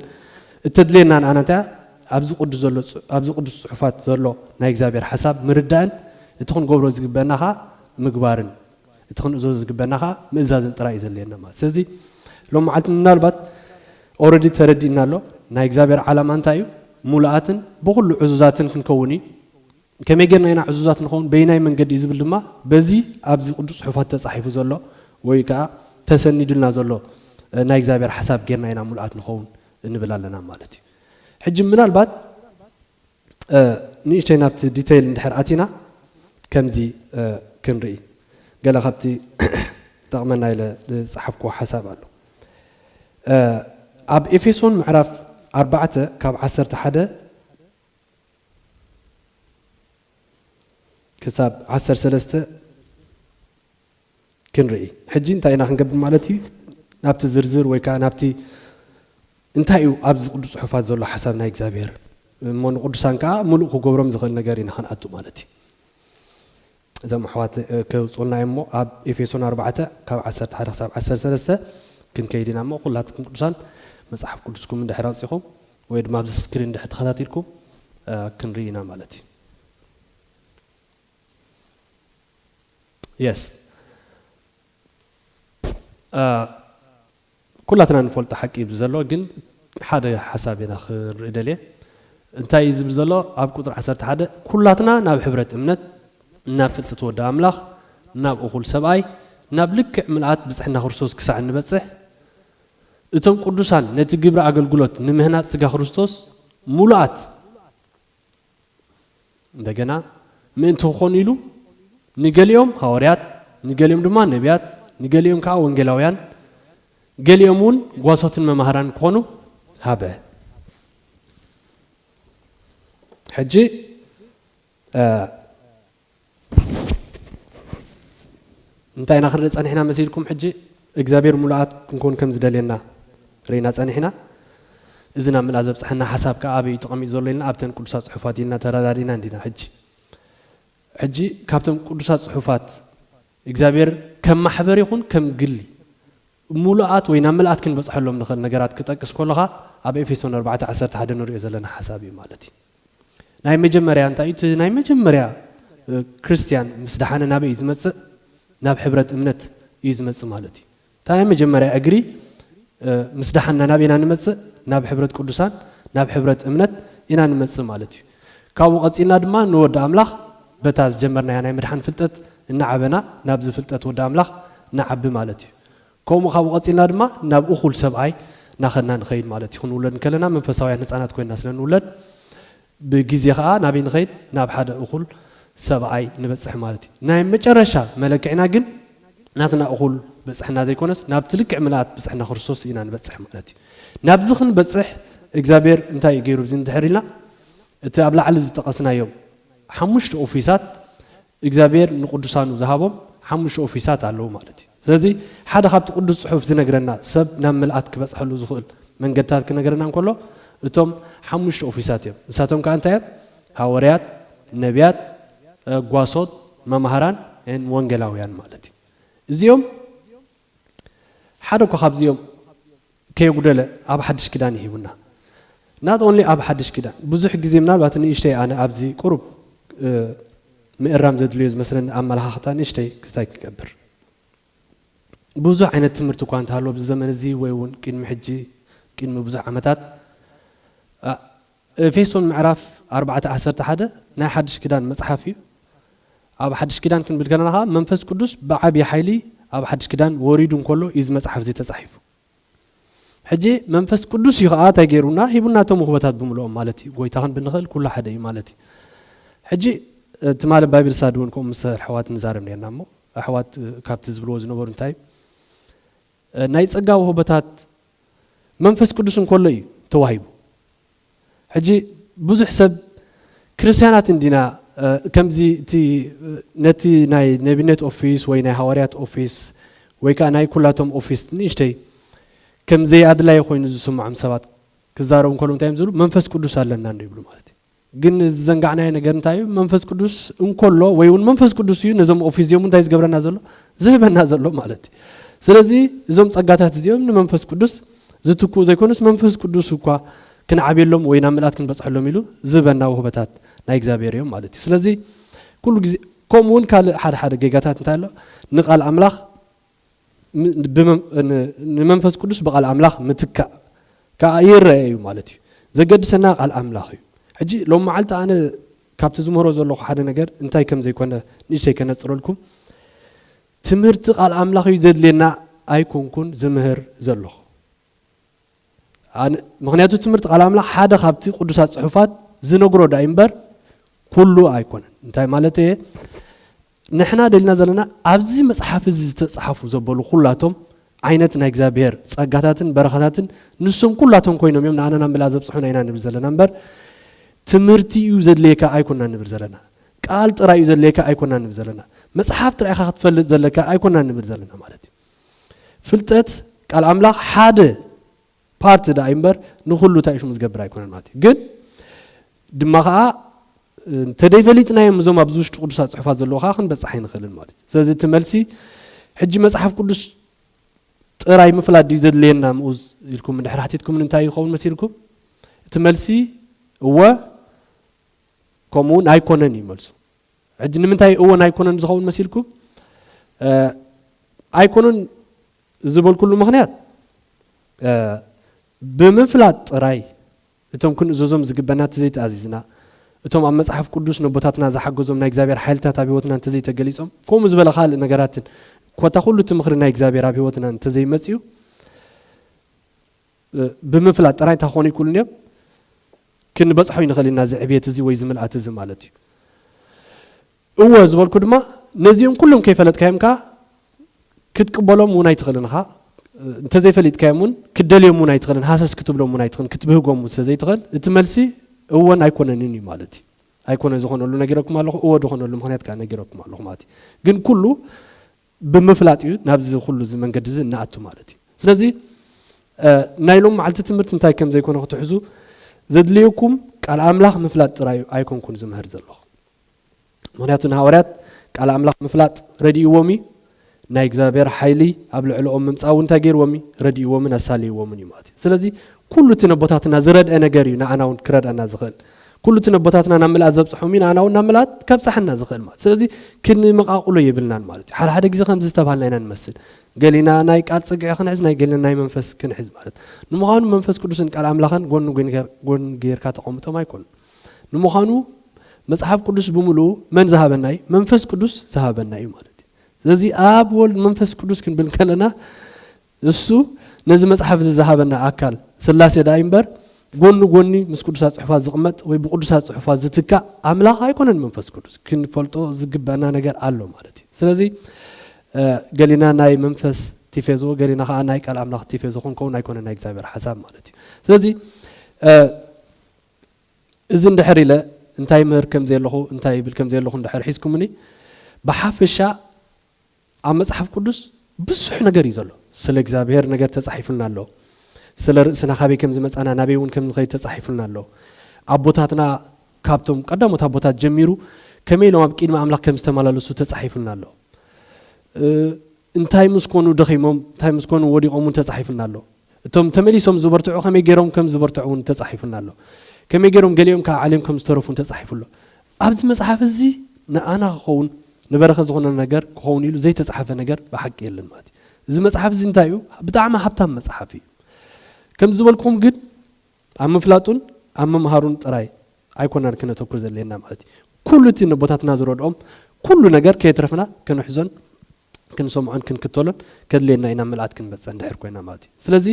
እተድልየና ንኣና እንታይ እያ? ኣብዚ ቅዱስ ዘሎ ኣብዚ ቅዱስ ጽሑፋት ዘሎ ናይ እግዚኣብሔር ሓሳብ ምርዳእን እቲ ክንገብሮ ዝግበአና ከኣ ምግባርን እቲ ክንእዘዞ ዝግበአና ከኣ ምእዛዝን ጥራይ እዩ ዘድልየና ማለት ስለዚ ሎም መዓልቲ ምናልባት ኦረዲ ተረዲእና ኣሎ ናይ እግዚኣብሔር ዓላማ እንታይ እዩ? ሙሉኣትን ብኹሉ ዕዙዛትን ክንከውን እዩ። ከመይ ጌርና ኢና ዕዙዛት ንኸውን? በየናይ መንገዲ እዩ ዝብል ድማ በዚ ኣብዚ ቅዱስ ጽሑፋት ተጻሒፉ ዘሎ ወይ ከኣ ተሰኒዱልና ዘሎ ናይ እግዚኣብሔር ሓሳብ ጌርና ኢና ምሉኣት ንኸውን እንብል ኣለና ማለት እዩ። ሕጂ ምናልባት ንእሽተይ ናብቲ ዲተይል እንድሕር ኣቲና ከምዚ ክንርኢ ገለ ካብቲ ጠቕመና ኢለ ዝጸሓፍክዎ ሓሳብ ኣሎ ኣብ ኤፌሶን ምዕራፍ ኣርባዕተ ካብ ዓሰርተ ሓደ ክሳብ ዓሰርተ ሰለስተ ክንርኢ ሕጂ እንታይ ኢና ክንገብር ማለት እዩ ናብቲ ዝርዝር ወይ ከዓ ናብቲ እንታይ እዩ ኣብዚ ቅዱስ ፅሑፋት ዘሎ ሓሳብ ናይ እግዚኣብሔር እሞ ንቅዱሳን ከዓ ምሉእ ክገብሮም ዝኽእል ነገር ኢና ክንኣቱ ማለት እዩ እዞም ኣሕዋት ኬውጽኡና እዮም እሞ፣ ኣብ ኤፌሶን ኣርባዕተ ካብ ዓሰርተ ሓደ ክሳብ ዓሰርተ ሰለስተ ክንከይድ ኢና እሞ፣ ኵላትኩም ቅዱሳን መጽሓፍ ቅዱስኩም እንድሕር ኣውጺኹም ወይ ድማ ኣብዚ ስክሪን እንድሕር ተኸታቲልኩም ክንርኢ ኢና ማለት እዩ። የስ ኩላትና ንፈልጦ ሓቂ እዩ ብዘሎ ግን ሓደ ሓሳብ ኢና ክንርኢ ደልየ እንታይ እዩ ዝብል ዘሎ ኣብ ቁፅሪ ዓሰርተ ሓደ ኩላትና ናብ ሕብረት እምነት ናብ ፍልጠት ወዲ ኣምላኽ ናብ እኹል ሰብኣይ ናብ ልክዕ ምልኣት ብፅሕና ክርስቶስ ክሳዕ እንበፅሕ እቶም ቅዱሳን ነቲ ግብሪ ኣገልግሎት ንምህናፅ ስጋ ክርስቶስ ሙሉኣት እንደገና ምእንቲ ክኾኑ ኢሉ ንገሊኦም ሃዋርያት፣ ንገሊኦም ድማ ነብያት፣ ንገሊኦም ከኣ ወንጌላውያን፣ ገሊኦም እውን ጓሶትን መማህራን ክኾኑ ሃበ። ሕጂ እንታይ ኢና ክንርኢ ጸኒሕና መሲልኩም? ሕጂ እግዚኣብሔር ምሉኣት ክንኮን ከም ዝደልየና ርኢና ጸኒሕና። እዚ ናብ ምልኣት ዘብጽሓና ሓሳብ ከኣ ኣበይ እዩ ተቐሚጡ ዘሎ ኢልና ኣብተን ቅዱሳት ጽሑፋት ኢልና ተረዳዲእና እንዲና። ሕጂ ሕጂ ካብቶም ቅዱሳት ጽሑፋት እግዚኣብሔር ከም ማሕበር ይኹን ከም ግሊ ምሉኣት ወይ ናብ ምልኣት ክንበጽሐሎም ንኽእል ነገራት ክጠቅስ ከሎኻ ኣብ ኤፌሶን ኣርባዕተ ዓሰርተ ሓደ ንርእዮ ዘለና ሓሳብ እዩ ማለት እዩ። ናይ መጀመርያ እንታይ እዩ እቲ ናይ መጀመርያ ክርስትያን ምስ ደሓነ ናበይ እዩ ዝመጽእ ናብ ሕብረት እምነት እዩ ዝመጽእ ማለት እዩ እታ ናይ መጀመርያ እግሪ ምስ ደሓና ናብ ኢና ንመጽእ ናብ ሕብረት ቅዱሳን ናብ ሕብረት እምነት ኢና ንመጽእ ማለት እዩ ካብኡ ቀጺልና ድማ ንወዲ ኣምላኽ በታ ዝጀመርናያ ናይ ምድሓን ፍልጠት እናዓበና ናብዚ ፍልጠት ወዲ ኣምላኽ ንዓቢ ማለት እዩ ከምኡ ካብኡ ቀጺልና ድማ ናብ እኹል ሰብኣይ ናኸድና ንኸይድ ማለት እዩ። ክንውለድ እንከለና መንፈሳውያን ህጻናት ኮይንና ስለ እንውለድ ብግዜ ከኣ ናበይ ንኸይድ ናብ ሓደ እኹል ሰብኣይ ንበጽሕ ማለት እዩ። ናይ መጨረሻ መለክዒና ግን ናትና እኹል ብጽሕና ዘይኮነስ ናብቲ ልክዕ ምልኣት ብጽሕና ክርስቶስ ኢና ንበጽሕ ማለት እዩ። ናብዚ ክንበጽሕ እግዚኣብሔር እንታይ እዩ ገይሩ ብዚ እንድሕር ኢልና እቲ ኣብ ላዕሊ ዝጠቐስናዮም ሓሙሽተ ኦፊሳት እግዚኣብሔር ንቅዱሳኑ ዝሃቦም ሓሙሽተ ኦፊሳት ኣለዉ ማለት እዩ። ስለዚ ሓደ ካብቲ ቅዱስ ጽሑፍ ዝነግረና ሰብ ናብ ምልኣት ክበጽሐሉ ዝኽእል መንገድታት ክነግረና እንከሎ እቶም ሓሙሽተ ኦፊሳት እዮም። ንሳቶም ከኣ እንታይ እዮም? ሃወርያት፣ ነብያት፣ ጓሶት፣ መማህራን፣ ን ወንጌላውያን ማለት እዩ። እዚኦም። ሓደ እኳ ካብዚኦም ከየጉደለ ኣብ ሓድሽ ኪዳን ይሂቡና not only ኣብ ሓድሽ ኪዳን ብዙሕ ግዜ ምናልባት ንእሽተይ ኣነ ኣብዚ ቁሩብ ምእራም ዘድልዮ ዝመስለኒ ኣመለኻኽታ ንእሽተይ ክስታይ ክገብር ብዙሕ ዓይነት ትምህርቲ እኳ እንተሃለዎ ኣብዚ ዘመን እዚ ወይ እውን ቅድሚ ሕጂ ቅድሚ ብዙሕ ዓመታት ኤፌሶን ምዕራፍ ኣርባዕተ ዓሰርተ ሓደ ናይ ሓድሽ ኪዳን መጽሓፍ እዩ። ኣብ ሓድሽ ኪዳን ክንብል ከለና ከኣ መንፈስ ቅዱስ ብዓቢ ሓይሊ ኣብ ሓድሽ ኪዳን ወሪዱ እንከሎ እዩ እዚ መጽሓፍ እዚ ተጻሒፉ። ሕጂ መንፈስ ቅዱስ እዩ ከኣ እንታይ ገይሩና ሂቡና እቶም ውህበታት ብምልኦም ማለት እዩ ጎይታ ክንብል ንኽእል ኩሉ ሓደ እዩ ማለት እዩ። ሕጂ ትማሊ ባይብል ሳዲ እውን ከምኡ ምስ ኣሕዋት ንዛረብ ነርና እሞ ኣሕዋት ካብቲ ዝብልዎ ዝነበሩ እንታይ እዩ ናይ ጸጋ ውህበታት መንፈስ ቅዱስ እንከሎ እዩ ተዋሂቡ። ሕጂ ብዙሕ ሰብ ክርስትያናት እንዲና ከምዚ እቲ ነቲ ናይ ነቢነት ኦፊስ ወይ ናይ ሃዋርያት ኦፊስ ወይ ከዓ ናይ ኩላቶም ኦፊስ ንእሽተይ ከም ዘይኣድላይ ኮይኑ ዝስምዖም ሰባት ክዛረቡ ከለዉ እንታይ እዮም ዝብሉ መንፈስ ቅዱስ ኣለና እንዶ ይብሉ ማለት እዩ። ግን ዝዘንጋዕናዮ ነገር እንታይ እዩ መንፈስ ቅዱስ እንኮሎ ወይ እውን መንፈስ ቅዱስ እዩ ነዞም ኦፊስ እዚኦም እንታይ ዝገብረና ዘሎ ዝህበና ዘሎ ማለት እዩ ስለዚ እዞም ጸጋታት እዚኦም ንመንፈስ ቅዱስ ዝትክኡ ዘይኮኑስ መንፈስ ቅዱስ እኳ ክንዓብየሎም ወይ ናብ ምልኣት ክንበጽሐሎም ኢሉ ዝህበና ውህበታት ናይ እግዚኣብሔር እዮም ማለት እዩ ስለዚ ኩሉ ግዜ ከምኡ እውን ካልእ ሓደ ሓደ ጌጋታት እንታይ ኣሎ ንቃል ኣምላኽ ንመንፈስ ቅዱስ ብቓል ኣምላኽ ምትካእ ከኣ ይረኣ እዩ ማለት እዩ። ዘገድሰና ቃል ኣምላኽ እዩ። ሕጂ ሎም መዓልቲ ኣነ ካብቲ ዝምህሮ ዘለኹ ሓደ ነገር እንታይ ከም ዘይኮነ ንእሽተይ ከነጽረልኩም። ትምህርቲ ቃል ኣምላኽ እዩ ዘድልየና ኣይኮንኩን ዝምህር ዘለኹ። ምክንያቱ ትምህርቲ ቃል ኣምላኽ ሓደ ካብቲ ቅዱሳት ጽሑፋት ዝነግሮ ዳይ እምበር ኩሉ ኣይኮነን እንታይ ማለት እየ ንሕና ደልና ዘለና ኣብዚ መጽሓፍ እዚ ዝተጻሓፉ ዘበሉ ኩላቶም ዓይነት ናይ እግዚኣብሔር ጸጋታትን በረኸታትን ንሶም ኩላቶም ኮይኖም እዮም ንኣና ናብ ምልኣ ዘብጽሑና ኢና ንብል ዘለና እምበር ትምህርቲ እዩ ዘድልየካ ኣይኮና ንብል ዘለና ቃል ጥራይ እዩ ዘድልየካ ኣይኮና ንብል ዘለና መጽሓፍ ጥራይካ ክትፈልጥ ዘለካ ኣይኮና ንብል ዘለና ማለት እዩ ፍልጠት ቃል ኣምላኽ ሓደ ፓርቲ ደኣ እዩ እምበር ንኹሉ እንታይ እዩ ሽሙ ዝገብር ኣይኮነን ማለት እዩ ግን ድማ ከዓ እንተደይፈሊጥናዮም እዞም ኣብዚ ውሽጢ ቅዱሳት ፅሑፋት ዘለዎ ከዓ ክንበፅሕ ኣይንኽእልን ማለት እዩ ስለዚ እቲ መልሲ ሕጂ መፅሓፍ ቅዱስ ጥራይ ምፍላጥ ድዩ ዘድልየና ምኡዝ ኢልኩም ድሕሪ ሓቲትኩምን እንታይ ይኸውን መሲልኩም እቲ መልሲ እወ ከምኡ እውን ኣይኮነን እዩ መልሱ ሕጂ ንምንታይ እወን ኣይኮነን ዝኸውን መሲልኩም ኣይኮነን ዝበልኩሉ ምኽንያት ብምፍላጥ ጥራይ እቶም ክንእዘዞም ዝግበና እንተዘይተኣዚዝና እቶም ኣብ መጽሓፍ ቅዱስ ነቦታትና ዝሓገዞም ናይ እግዚኣብሔር ሓይልታት ኣብ ህይወትና እንተዘይተገሊጾም ከምኡ ዝበለ ካልእ ነገራትን ኮታ ኩሉ እቲ ምኽሪ ናይ እግዚኣብሔር ኣብ ህይወትና እንተዘይመጽኡ ብምፍላጥ ጥራይ እንታይ ክኾኑ ኣይክእሉን እዮም? ክንበጽሖ ኣይንኽእልን ኢና እዚ ዕብየት እዚ ወይ እዚ ምልኣት እዚ ማለት እዩ። እወ ዝበልኩ ድማ ነዚኦም ኩሎም ከይፈለጥካዮም ከኣ ክትቅበሎም እውን ኣይትኽእልን ኢኻ። እንተዘይፈሊጥካዮም እውን ክትደልዮም እውን ኣይትኽእልን፣ ሃሰስ ክትብሎም እውን ኣይትኽእልን፣ ክትብህጎም እውን ስለዘይትኽእል እቲ መልሲ እወን ኣይኮነንን እዩ ማለት እዩ። ኣይኮነ ዝኾነሉ ነጊረኩም ኣለኹ፣ እወ ዝኾነሉ ምኽንያት ከኣ ነጊረኩም ኣለኹ ማለት እዩ። ግን ኩሉ ብምፍላጥ እዩ ናብዚ ኩሉ እዚ መንገዲ እዚ እንኣቱ ማለት እዩ። ስለዚ ናይ ሎም መዓልቲ ትምህርቲ እንታይ ከም ዘይኮነ ክትሕዙ ዘድልየኩም ቃል ኣምላኽ ምፍላጥ ጥራይ ኣይኮንኩን ዝምህር ዘለኹ። ምክንያቱ ንሃዋርያት ቃል ኣምላኽ ምፍላጥ ረድእዎም እዩ። ናይ እግዚኣብሔር ሓይሊ ኣብ ልዕለኦም ምምጻእ እውን እንታይ ገይርዎም እዩ? ረድእዎምን ኣሳልይዎምን እዩ ማለት እዩ። ስለዚ ኩሉ እቲ ነቦታትና ዝረድአ ነገር እዩ ንኣና እውን ክረድኣና ዝኽእል። ኩሉ እቲ ነቦታትና ናብ ምልኣት ዘብጽሖም እዩ ንኣና ውን ናብ ምልኣት ከብጽሓና ዝኽእል ማለት ስለዚ ክንመቓቕሎ የብልናን ማለት እዩ ሓደ ሓደ ግዜ ከምዚ ዝተብሃልና ኢና ንመስል ገሊና ናይ ቃል ጽግዒ ክንሕዝ ናይ ገሊና ናይ መንፈስ ክንሕዝ ማለት ንምዃኑ መንፈስ ቅዱስን ቃል ኣምላኽን ጎኒ ጎን ጌርካ ተቐምጦም ኣይኮኑ ንምዃኑ መጽሓፍ ቅዱስ ብምልኡ መን ዝሃበና እዩ መንፈስ ቅዱስ ዝሃበና እዩ ማለት እዩ ስለዚ ኣብ ወልድ መንፈስ ቅዱስ ክንብል ከለና እሱ ነዚ መጽሓፍ እዚ ዝሃበና ኣካል ሥላሴ ደኣ እዩ'ምበር፣ ጎኒ ጎኒ ምስ ቅዱሳት ጽሑፋት ዝቕመጥ ወይ ብቅዱሳት ጽሑፋት ዝትካእ ኣምላኽ ኣይኮነን መንፈስ ቅዱስ። ክንፈልጦ ዝግበእና ነገር ኣሎ ማለት እዩ። ስለዚ ገሊና ናይ መንፈስ ቲፌዞ ገሊና ከኣ ናይ ቃል ኣምላኽ ቲፌዞ ክንከውን ኣይኮነን ናይ እግዚኣብሔር ሓሳብ ማለት እዩ። ስለዚ እዚ እንድሕር ኢለ እንታይ ይምህር ከምዘየለኹ እንታይ ይብል ከምዘየለኹ እንድሕር ሒዝኩምኒ ብሓፈሻ ኣብ መጽሓፍ ቅዱስ ብዙሕ ነገር እዩ ዘሎ። ስለ እግዚኣብሄር ነገር ተጻሒፉልና ኣሎ። ስለ ርእስና ካበይ ከም ዝመጻና ናበይ እውን ከም ዝኸይድ ተጻሒፉልና ኣሎ። ኣቦታትና ካብቶም ቀዳሞት ኣቦታት ጀሚሩ ከመይ ኢሎም ኣብ ቂድሚ ኣምላኽ ከም ዝተመላለሱ ተጻሒፉልና ኣሎ። እንታይ ምስ ኮኑ ደኺሞም እንታይ ምስ ኮኑ ወዲቖም እውን ተጻሒፉልና ኣሎ። እቶም ተመሊሶም ዝበርትዑ ከመይ ገይሮም ከም ዝበርትዑ እውን ተጻሒፉና ኣሎ። ከመይ ገይሮም ገሊኦም ከኣ ዓልዮም ከም ዝተረፉ እውን ተጻሒፉ ኣሎ። ኣብዚ መጽሓፍ እዚ ንኣና ክኸውን ንበረኸት ዝኾነና ነገር ክኸውን ኢሉ ዘይተጻሕፈ ነገር ብሓቂ የለን ማለት እዩ። እዚ መጽሓፍ እዚ እንታይ እዩ ብጣዕሚ ሃብታም መጽሓፍ እዩ። ከምዚ ዝበልክኹም ግን ኣብ ምፍላጡን ኣብ ምምሃሩን ጥራይ ኣይኮናን ከነተኩር ዘድልየና ማለት እዩ። ኩሉ እቲ ነቦታትና ዝረድኦም ኩሉ ነገር ከየትረፍና ከንሕዞን ክንሰምዖን ክንክተሎን ከድልየና እዩ ናብ ምልኣት ክንበጽሕ እንድሕር ኮይና ማለት እዩ ስለዚ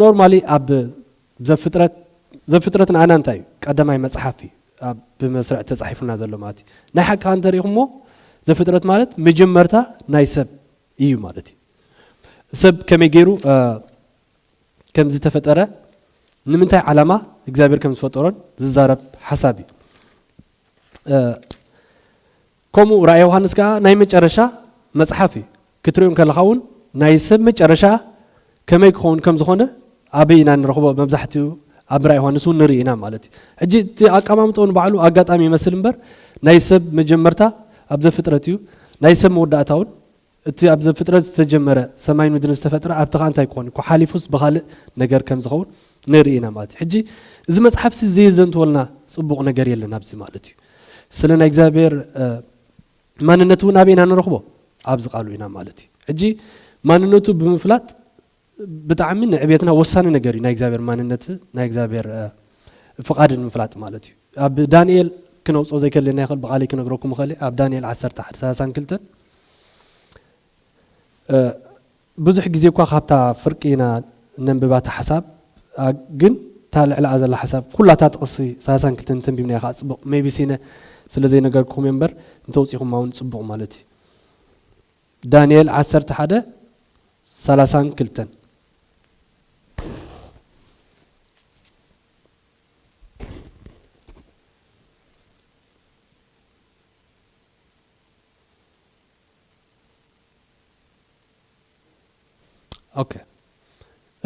ኖርማሊ ኣብ ዘፍጥረት ዘፍጥረት ንኣና እንታይ እዩ ቀዳማይ መጽሓፍ እዩ ብመስርዕ ተጻሒፉና ዘሎ ማለት እዩ ናይ ሓቂ ከዓ እንተሪኢኹሞ ዘፍጥረት ማለት መጀመርታ ናይ ሰብ እዩ ማለት እዩ ሰብ ከመይ ገይሩ ከም ዝተፈጠረ ንምንታይ ዓላማ እግዚኣብሔር ከም ዝፈጠሮን ዝዛረብ ሓሳብ እዩ ከምኡ ራእይ ዮሃንስ ከኣ ናይ መጨረሻ መጽሓፍ እዩ። ክትርእዮ እንከለኻ እውን ናይ ሰብ መጨረሻ ከመይ ክኸውን ከም ዝኾነ ኣበይ ኢና ንረኽቦ መብዛሕትኡ ኣብ ራእይ ዮሃንስ እውን ንርኢ ኢና ማለት እዩ። ሕጂ እቲ ኣቀማምጥኡ ንባዕሉ ኣጋጣሚ ይመስል እምበር ናይ ሰብ መጀመርታ ኣብ ዘፍጥረት እዩ ናይ ሰብ መወዳእታ እውን እቲ ኣብ ዘፍጥረት ዝተጀመረ ሰማይን ምድርን ዝተፈጥረ ኣብቲ ከኣ እንታይ ክኾን እኮ ሓሊፉስ ብኻልእ ነገር ከም ዝኸውን ንርኢ ኢና ማለት እዩ። ሕጂ እዚ መጽሓፍሲ ዘየዘንትወልና ጽቡቕ ነገር የለን ኣብዚ ማለት እዩ። ስለ ናይ እግዚኣብሔር ማንነት እውን ኣበይ ኢና ንረኽቦ ኣብዚ ቃሉ ኢና ማለት እዩ። ሕጂ ማንነቱ ብምፍላጥ ብጣዕሚ ንዕቤትና ወሳኒ ነገር እዩ ናይ እግዚኣብሔር ማንነት ናይ እግዚኣብሔር ፍቃድን ምፍላጥ ማለት እዩ ኣብ ዳንኤል ክነውፅኦ ዘይከለና ይኽእል ብቃለይ ክነግረኩም እኽእል ኣብ ዳንኤል 11 ሰላሳን ክልተን ብዙሕ ግዜ እኳ ካብታ ፍርቂ ኢና ነንብባ እታ ሓሳብ ግን እታ ልዕላኣ ዘላ ሓሳብ ኩላታ ጥቕሲ ሰላሳን ክልተን ተንቢብናያ ከዓ ፅቡቕ ሜቢ ሲነ ስለ ዘይነገርኩም እየ እምበር እንተውፂኹማ እውን ፅቡቕ ማለት እዩ ዳንኤል ዓሰርተ ሓደ ሰላሳን ክልተን ኦከ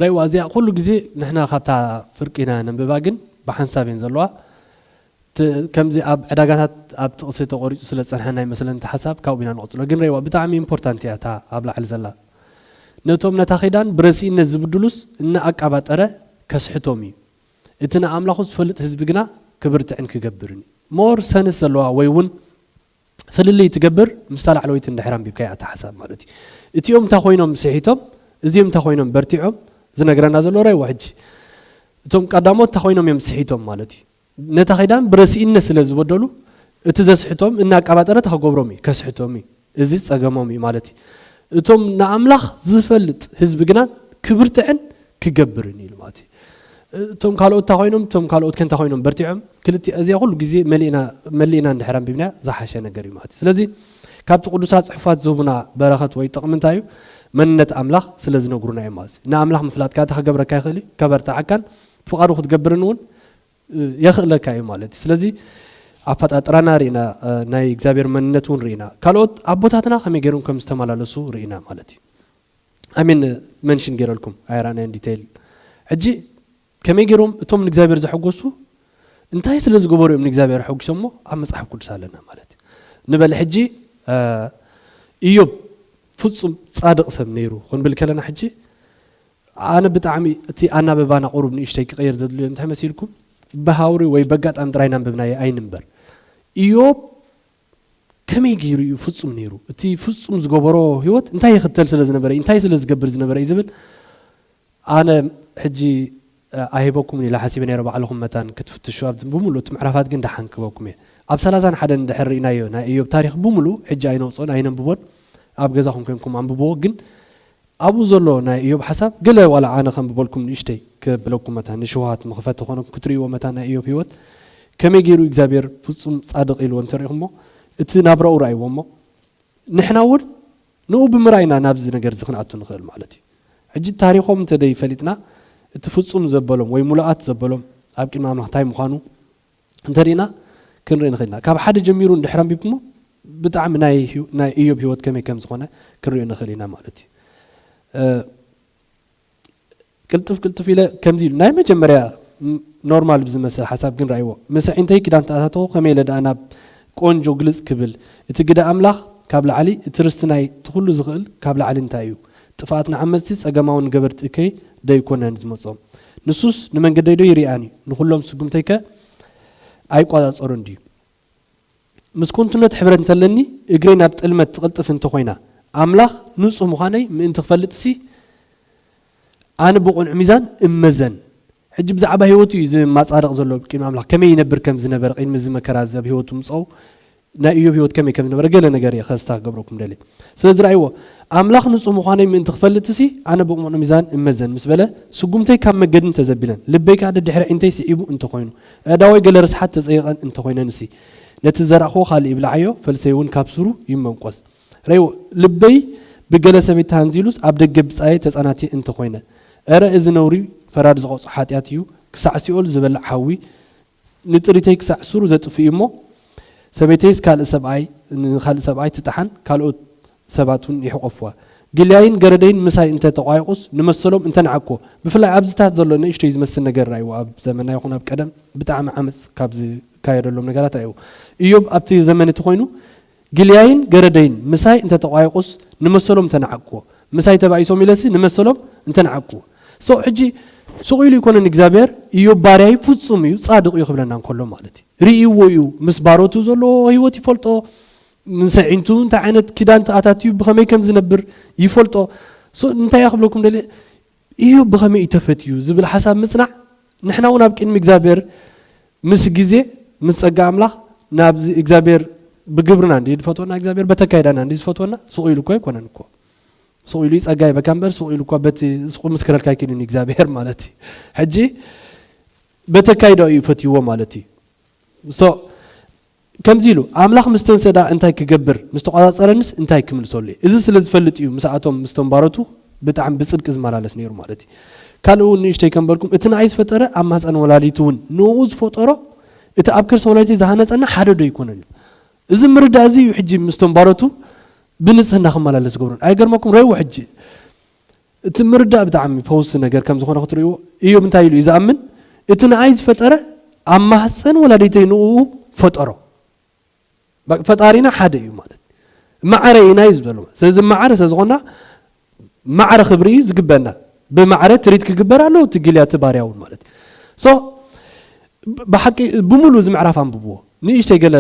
ረይዋ እዚኣ ኩሉ ግዜ ንሕና ካብታ ፍርቂ ኢና ነንብባ ግን ብሓንሳብ እየን ዘለዋ ከምዚ ኣብ ዕዳጋታት ኣብ ጥቕሲ ተቖሪጹ ስለ ዝጸንሐና ይመስለኒ እቲ ሓሳብ ካብኡ ኢና ንቕጽሎ ግን ረይዋ ብጣዕሚ ኢምፖርታንት እያ እታ ኣብ ላዕሊ ዘላ ነቶም ነታ ኺዳን ብረሲእነት ዝብድሉስ እናኣቃባጠረ ከስሕቶም እዩ እቲ ንኣምላኹ ዝፈልጥ ህዝቢ ግና ክብርትዕን ክገብርን እዩ ሞር ሰንስ ዘለዋ ወይ እውን ፍልልይ እትገብር ምስታ ላዕለወይቲ እንድሕር ኣንቢብካያ እታ ሓሳብ ማለት እዩ። እቲኦም እንታ ኮይኖም ስሒቶም እዚኦም እንታ ኮይኖም በርቲዖም ዝነግረና ዘሎ ራይዎ ሕጂ እቶም ቀዳሞት እንታ ኮይኖም እዮም ስሒቶም ማለት እዩ። ነታ ኪዳን ብረሲኢነት ስለ ዝበደሉ እቲ ዘስሕቶም እናኣቃባጠረ እንታ ክገብሮም እዩ ከስሕቶም እዩ እዚ ጸገሞም እዩ ማለት እዩ። እቶም ንኣምላኽ ዝፈልጥ ህዝቢ ግና ክብርትዕን ክገብርን ኢሉ ማለት እዩ። እቶም ካልኦት እንታይ ኮይኖም እቶም ካልኦት ከ እንታይ ኮይኖም በርቲዖም ክልቲኣ እዚኣ ኩሉ ግዜ መሊእና መሊእና እንድሕር ኣንቢብናያ ዝሓሸ ነገር እዩ ማለት እዩ ስለዚ ካብቲ ቅዱሳት ጽሑፋት ዝህቡና በረኸት ወይ ጥቕሚ እንታይ እዩ መንነት ኣምላኽ ስለ ዝነግሩና እዮም ማለት እዩ ንኣምላኽ ምፍላጥ ካታ ክገብረካ ይኽእል እዩ ከበርትዓካን ፍቓዱ ክትገብርን እውን የኽእለካ እዩ ማለት እዩ ስለዚ ኣፈጣጥራና ርኢና ናይ እግዚኣብሔር መንነት እውን ርኢና ካልኦት ኣቦታትና ከመይ ገይሮም ከም ዝተመላለሱ ርኢና ማለት እዩ ኣሜን መንሽን ጌረልኩም ኣይራእናዮን ዲተይል ሕጂ ከመይ ጌሮም እቶም ንእግዚኣብሔር ዘሐጎሱ እንታይ ስለ ዝገበሩ እዮም ንእግዚኣብሔር ሐጒሶሞ ኣብ መጽሓፍ ቅዱስ ኣለና ማለት እዩ ንበል ሕጂ ኢዮብ ፍጹም ጻድቕ ሰብ ነይሩ ክንብል ከለና ሕጂ ኣነ ብጣዕሚ እቲ ኣናበባና ቁሩብ ንእሽተይ ክቐየር ዘድልዮ እንታይ መሲልኩም ብሃውሪ ወይ በጋጣሚ ጥራይ ናንብብናየ ኣይንንበር ኢዮብ ከመይ ገይሩ እዩ ፍጹም ነይሩ? እቲ ፍጹም ዝገበሮ ህይወት እንታይ ይኽተል ስለ ዝነበረ እዩ? እንታይ ስለ ዝገብር ዝነበረ እዩ? ዝብል ኣነ ሕጂ ኣይህበኩምን ኢለ ሓሲበ ነይረ፣ ባዕልኹም መታን ክትፍትሹ ኣብ ብምሉእ እቲ ምዕራፋት ግን ደሓን ክህበኩም እየ። ኣብ ሰላሳን ሓደን እንድሕር ርኢናዮ ናይ እዮብ ታሪኽ ብምሉእ ሕጂ ኣይነውጽኦን ኣይነንብቦን፣ ኣብ ገዛኹም ኴንኩም ኣንብብዎ፣ ግን ኣብኡ ዘሎ ናይ እዮብ ሓሳብ ገለ ዋላ ኣነ ከንብበልኩም ንእሽተይ ከብለኩም መታን ንሽውሃት መኽፈቲ ኮነኩም ክትርእይዎ መታን ናይ እዮብ ሂወት ከመይ ጌሩ እግዚኣብሔር ፍጹም ጻድቕ ኢልዎ እንተሪእኹሞ እቲ ናብራኡ ርኣይዎ እሞ ንሕና እውን ንኡ ብምርኣይ ኢና ናብዚ ነገር እዚ ክንኣቱ ንኽእል ማለት እዩ ሕጂ ታሪኾም እንተደይ ፈሊጥና እቲ ፍጹም ዘበሎም ወይ ሙሉኣት ዘበሎም ኣብ ቅድሚ ኣምላኽ እንታይ ምዃኑ እንተሪእና ክንርኢ ንኽእል ኢና። ካብ ሓደ ጀሚሩ እንድሕር ኣንቢብኩሞ ብጣዕሚ ናይ እዮብ ህይወት ከመይ ከም ዝኾነ ክንሪኦ ንኽእል ኢና ማለት እዩ። ቅልጥፍ ቅልጥፍ ኢለ ከምዚ ኢሉ ናይ መጀመርያ ኖርማል ብዝመስል ሓሳብ ግን ራእይዎ ምስ ኣዒንተይ ክዳን ተኣታተኹ ከመይ ኢለ ደኣ ናብ ቆንጆ ግልጽ ክብል እቲ ግደ ኣምላኽ ካብ ላዕሊ እቲ ርስቲ ናይ እቲ ኩሉ ዝኽእል ካብ ላዕሊ እንታይ እዩ ጥፍኣት ንዓመጽቲ ጸገማውን ንገበርቲ እከይ ደይኮነን ዝመጾም ንሱስ ንመንገደይዶ ይርኣን እዩ? ንዅሎም ስጕምተይከ ኣይቈጻጸሮን ድዩ? ምስ ኰንቱነት ሕብረት እንተ ኣለኒ፣ እግረይ ናብ ጥልመት ትቕልጥፍ እንተ ዀይና፣ ኣምላኽ ንጹህ ምዃነይ ምእንቲ ኽፈልጥሲ፣ ኣነ ብቕኑዕ ሚዛን እመዘን። ሕጂ ብዛዕባ ህይወቱ እዩ ዝማጻደቕ ዘሎ። ቂድሚ ኣምላኽ ከመይ ይነብር ከም ዝነበረ፣ ቂድሚ እዚ መከራ እዚ ኣብ ህይወቱ ምምጻኡ ናይ እዮብ ህይወት ከመይ ከም ዝነበረ ገለ ነገር እየ ከስታ ክገብረኩም ደልየ። ስለዚ ርኣይዎ፣ ኣምላኽ ንጹህ ምዃነይ ምእንቲ ክፈልጥሲ፣ ኣነ ብቕኑዕ ሚዛን እመዘን ምስ በለ፣ ስጉምተይ ካብ መገዲ እንተ ዘቢለን፣ ልበይ ከኣ ደድሕሪ ኣዒንተይ ስዒቡ እንተ ዀይኑ፣ ኣእዳወይ ገለ ርስሓት ተጸይቐን እንተ ዀይነንሲ፣ ነቲ ዝዘራእክዎ ካልእ ይብላዓዮ፣ ፈልሰይውን ካብ ሱሩ ይመንቈስ። ርኣይዎ፣ ልበይ ብገለ ሰበይቲ ተሃንዚሉስ ኣብ ደገ ብጻየይ ተጸናትየ እንተ ዀይነ፣ እረ እዚ ነውሪ ፈራዲ ዝቐጽዖ ሓጢኣት እዩ፣ ክሳዕ ሲኦል ዝበልዕ ሓዊ ንጥሪተይ ክሳዕ ሱሩ ዘጥፍእ'ዩ እሞ፣ ሰበይተይስ ካልእ ሰብኣይ ንኻልእ ሰብኣይ ትጥሓን፣ ካልኦት ሰባት ውን ይሕቆፍዋ። ጊልያይን ገረደይን ምሳይ እንተ ተቋይቑስ፣ ንመሰሎም እንተ ንዓቅኩ። ብፍላይ ኣብዚታት ዘሎ ንእሽቶይ ዝመስል ነገር ርኣይዎ፣ ኣብ ዘመና ይኹን ኣብ ቀደም ብጣዕሚ ዓመጽ ካብ ዝካየደሎም ነገራት ርኣይዎ። እዮብ ኣብቲ ዘመን እቲ ኮይኑ ግልያይን ገረደይን ምሳይ እንተ ተቋየቁስ ንመሰሎም እንተ ነዓቅዎ ምሳይ ተባኢሶም ኢለሲ ንመሰሎም እንተ ነዓቅዎ so ሕጂ ሱቅ ኢሉ ኣይኮነን እግዚኣብሔር እዮብ ባርያይ ፍጹም እዩ ጻድቅ እዩ ክብለና እንከሎ ማለት እዩ ርእይዎ እዩ ምስ ባሮቱ ዘሎ ህይወት ይፈልጦ ምስ ኣዒንቱ እንታይ ዓይነት ኪዳን ተኣታትዩ ብከመይ ከም ዝነብር ይፈልጦ so እንታይ እያ ክብለኩም ደልየ ኢዮብ ብኸመይ ኢዩ ተፈትዩ ዝብል ሓሳብ ምጽናዕ ንሕና ውን ኣብ ቅድሚ እግዚኣብሔር ምስ ግዜ ምስ ጸጋ ኣምላኽ ናብዚ እግዚኣብሔር ብግብርና እንድዩ ዝፈትወና እግዚኣብሔር በተካይዳና እንድዩ ዝፈትወና ሱቕ ኢሉ እኮ ኣይኮነን እኮ ሱቕ ኢሉ ጸጋ ይበካ እምበር ሱቕ ኢሉ እኳ በቲ ሱቕ ምስክረልካ ኣይክእልን እዩ እግዚኣብሔር ማለት እዩ ሕጂ በተካይዳኡ እዩ ፈትይዎ ማለት እዩ ከምዚ ኢሉ፣ ኣምላኽ ምስ ተንሰዳ እንታይ ክገብር ምስ ተቖጻጸረኒስ እንታይ ክምልሰሉ እየ? እዚ ስለ ዝፈልጥ እዩ ምስኣቶም ምስቶም ባሮቱ ብጣዕሚ ብጽድቂ ዝመላለስ ነይሩ ማለት እዩ። ካልእ እውን ንእሽተይ ከንበልኩም እቲ ንኣይ ዝፈጠረ ኣብ ማህጸን ወላዲቱ እውን ንእኡ ዝፈጠሮ እቲ ኣብ ከርሲ ወላዲተይ ዝሃነጸኒ ሓደ ዶ ኣይኮነን እዩ? እዚ ምርዳእ እዚ እዩ ሕጂ ምስቶም ባሮቱ ብንጽህና ክመላለስ ዝገብሮን። ኣይገርመኩም ረእዎ ሕጂ እቲ ምርዳእ ብጣዕሚ ፈውሲ ነገር ከም ዝኾነ ክትርእይዎ፣ እዮብ እንታይ ኢሉ እዩ ዝኣምን? እቲ ንኣይ ዝፈጠረ ኣብ ማህጸን ወላዲተይ ንእኡ ፈጠሮ። በቃ ፈጣሪና ሓደ እዩ ማለት ማዕረ ኢና እዩ ዝበሎ። ስለዚ ማዕረ ስለ ዝኾና ማዕረ ክብሪ እዩ ዝግበና። ብማዕረ ትሪት ክግበር ኣለዎ እቲ ጊልያ እቲ ባርያ እውን ማለት እዩ። ሶ ብሓቂ ብምሉእ እዚ ምዕራፍ ኣንብብዎ ንእሽተይ ገለ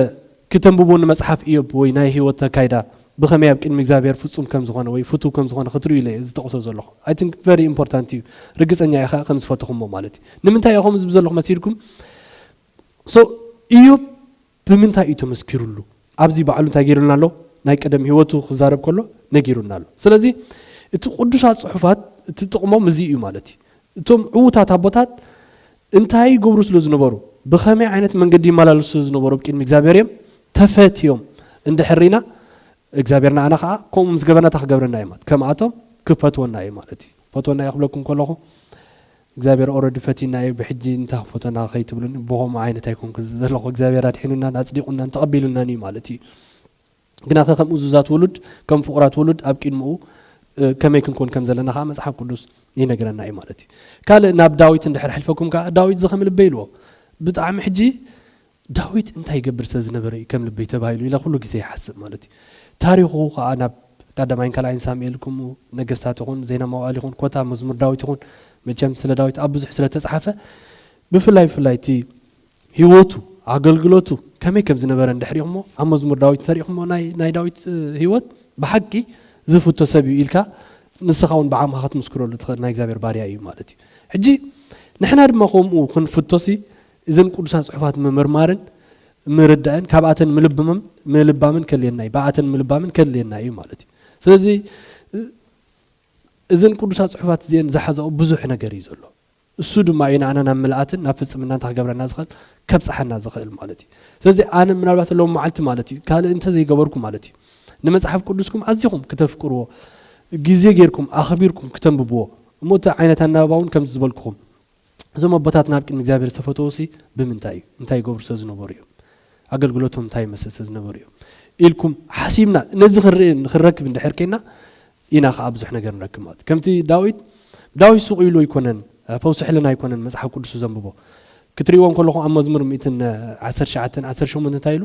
ክተንብቡ ንመጽሓፍ እዮብ ወይ ናይ ህይወት ኣካይዳ ብኸመይ ኣብ ቅድሚ እግዚኣብሄር ፍጹም ከም ዝኾነ ወይ ፍቱው ከም ዝኾነ ክትርእዩ ኢለ እየ ዝጠቕሶ ዘለኹ i think very important እዩ ርግጸኛ እየ ከኣ ከም ዝፈተኹሞ ማለት እዩ ንምንታይ እየ ከምኡ ዝብል ዘለኹ መሲልኩም so እዮብ ብምንታይ እዩ ተመስኪሩሉ ኣብዚ ባዕሉ እንታይ ገይሩልና ኣሎ ናይ ቀደም ህይወቱ ክዛረብ ከሎ ነጊሩና ኣሎ ስለዚ እቲ ቅዱሳት ጽሑፋት እቲ ጥቕሞም እዚ እዩ ማለት እዩ እቶም ዕዉታት ኣቦታት እንታይ ይገብሩ ስለ ዝነበሩ፣ ብኸመይ ዓይነት መንገዲ ይመላለሱ ስለ ዝነበሩ ኣብ ቅድሚ እግዚኣብሔር እዮም ተፈትዮም እንድሕር ርኢና እግዚኣብሔር ንዓና ከኣ ከምኡ ምስ ገበርና እንታይ ክገብረና እዩ ማለት ከምኣቶም ክፈትወና እዩ ማለት እዩ። ፈትወና እዩ ክብለኩም ከለኹ እግዚኣብሔር ኦረዲ ፈቲና እዩ ብሕጂ እንታይ ክፈትወና ከይትብሉኒ ብኸምኡ ዓይነት ኣይኮንኩን ዘለኹ እግዚኣብሔር ኣድሒኑናን ኣጽዲቑናን ተቐቢሉናን እዩ ማለት እዩ። ግናኸ ከም እዙዛት ውሉድ፣ ከም ፍቑራት ውሉድ ኣብ ቂድምኡ ከመይ ክንኮን ከም ዘለና ከኣ መጽሓፍ ቅዱስ ይነግረና እዩ ማለት እዩ። ካልእ ናብ ዳዊት እንድሕር ኣሕልፈኩም ከኣ ዳዊት እዚ ከም ልበይ ኢልዎ። ብጣዕሚ ሕጂ ዳዊት እንታይ ይገብር ስለ ዝነበረ እዩ ከም ልበይ ተባሂሉ ኢለ ኩሉ ግዜ ይሓስብ ማለት እዩ። ታሪኹ ከኣ ናብ ቀዳማይን ካልኣይን ሳሙኤል ከምኡ ነገስታት ይኹን ዜና መዋእል ይኹን ኮታ መዝሙር ዳዊት ይኹን መቸም ስለ ዳዊት ኣብ ብዙሕ ስለ ተጽሓፈ ብፍላይ ብፍላይ እቲ ህይወቱ ኣገልግሎቱ ከመይ ከም ዝነበረ እንድሕሪኹሞ ኣብ መዝሙር ዳዊት እንተሪእኹሞ ናይ ናይ ዳዊት ህይወት ብሓቂ ዝፍቶ ሰብ እዩ ኢልካ ንስኻ እውን ብዓቕምኻ ክትምስክረሉ ትኽእል ናይ እግዚኣብሔር ባርያ እዩ ማለት እዩ ሕጂ ንሕና ድማ ከምኡ ክንፍቶሲ እዘን ቅዱሳት ጽሑፋት ምምርማርን ምርዳእን ካብኣተን ምልብምም ምልባምን ከድልየና እዩ ብኣተን ምልባምን ከድልየና እዩ ማለት እዩ ስለዚ እዘን ቅዱሳት ጽሑፋት እዚአን ዝሓዛኦ ብዙሕ ነገር እዩ ዘሎ እሱ ድማ እዩ ንኣና ናብ ምልኣትን ናብ ፍጽምናን እንተ ክገብረና ዝኸእል ከብጽሓና ዝኸእል ማለት እዩ ስለዚ ኣነ ምናልባት ሎም መዓልቲ ማለት እዩ ካልእ እንተ ዘይገበርኩ ማለት እዩ ንመጽሓፍ ቅዱስኩም ኣዚኹም ክተፍቅርዎ ግዜ ጌርኩም ኣኽቢርኩም ክተንብብዎ እሞ እቲ ዓይነት ኣናባባ እውን ከምዚ ዝበልኩኹም እዞም ኣቦታት ናብ ቅድሚ እግዚኣብሔር ዝተፈተውሲ ብምንታይ እዩ እንታይ ይገብሩ ስለ ዝነበሩ እዮም ኣገልግሎቶም እንታይ ይመስል ስለ ዝነበሩ እዮም ኢልኩም ሓሲብና ነዚ ክንርኢ ንክንረክብ እንድሕር ኬና ኢና ከኣ ብዙሕ ነገር ንረክብ ማለት እዩ። ከምቲ ዳዊት ዳዊት ሱቕ ኢሉ ኣይኮነን ፈውሲ ሕልና ኣይኮነን መጽሓፍ ቅዱሱ ዘንብቦ። ክትርእይዎ እንከለኹም ኣብ መዝሙር ሚእትን ዓሰርተ ትሽዓተን ዓሰርተ ሸሞንተን እንታይ ኢሉ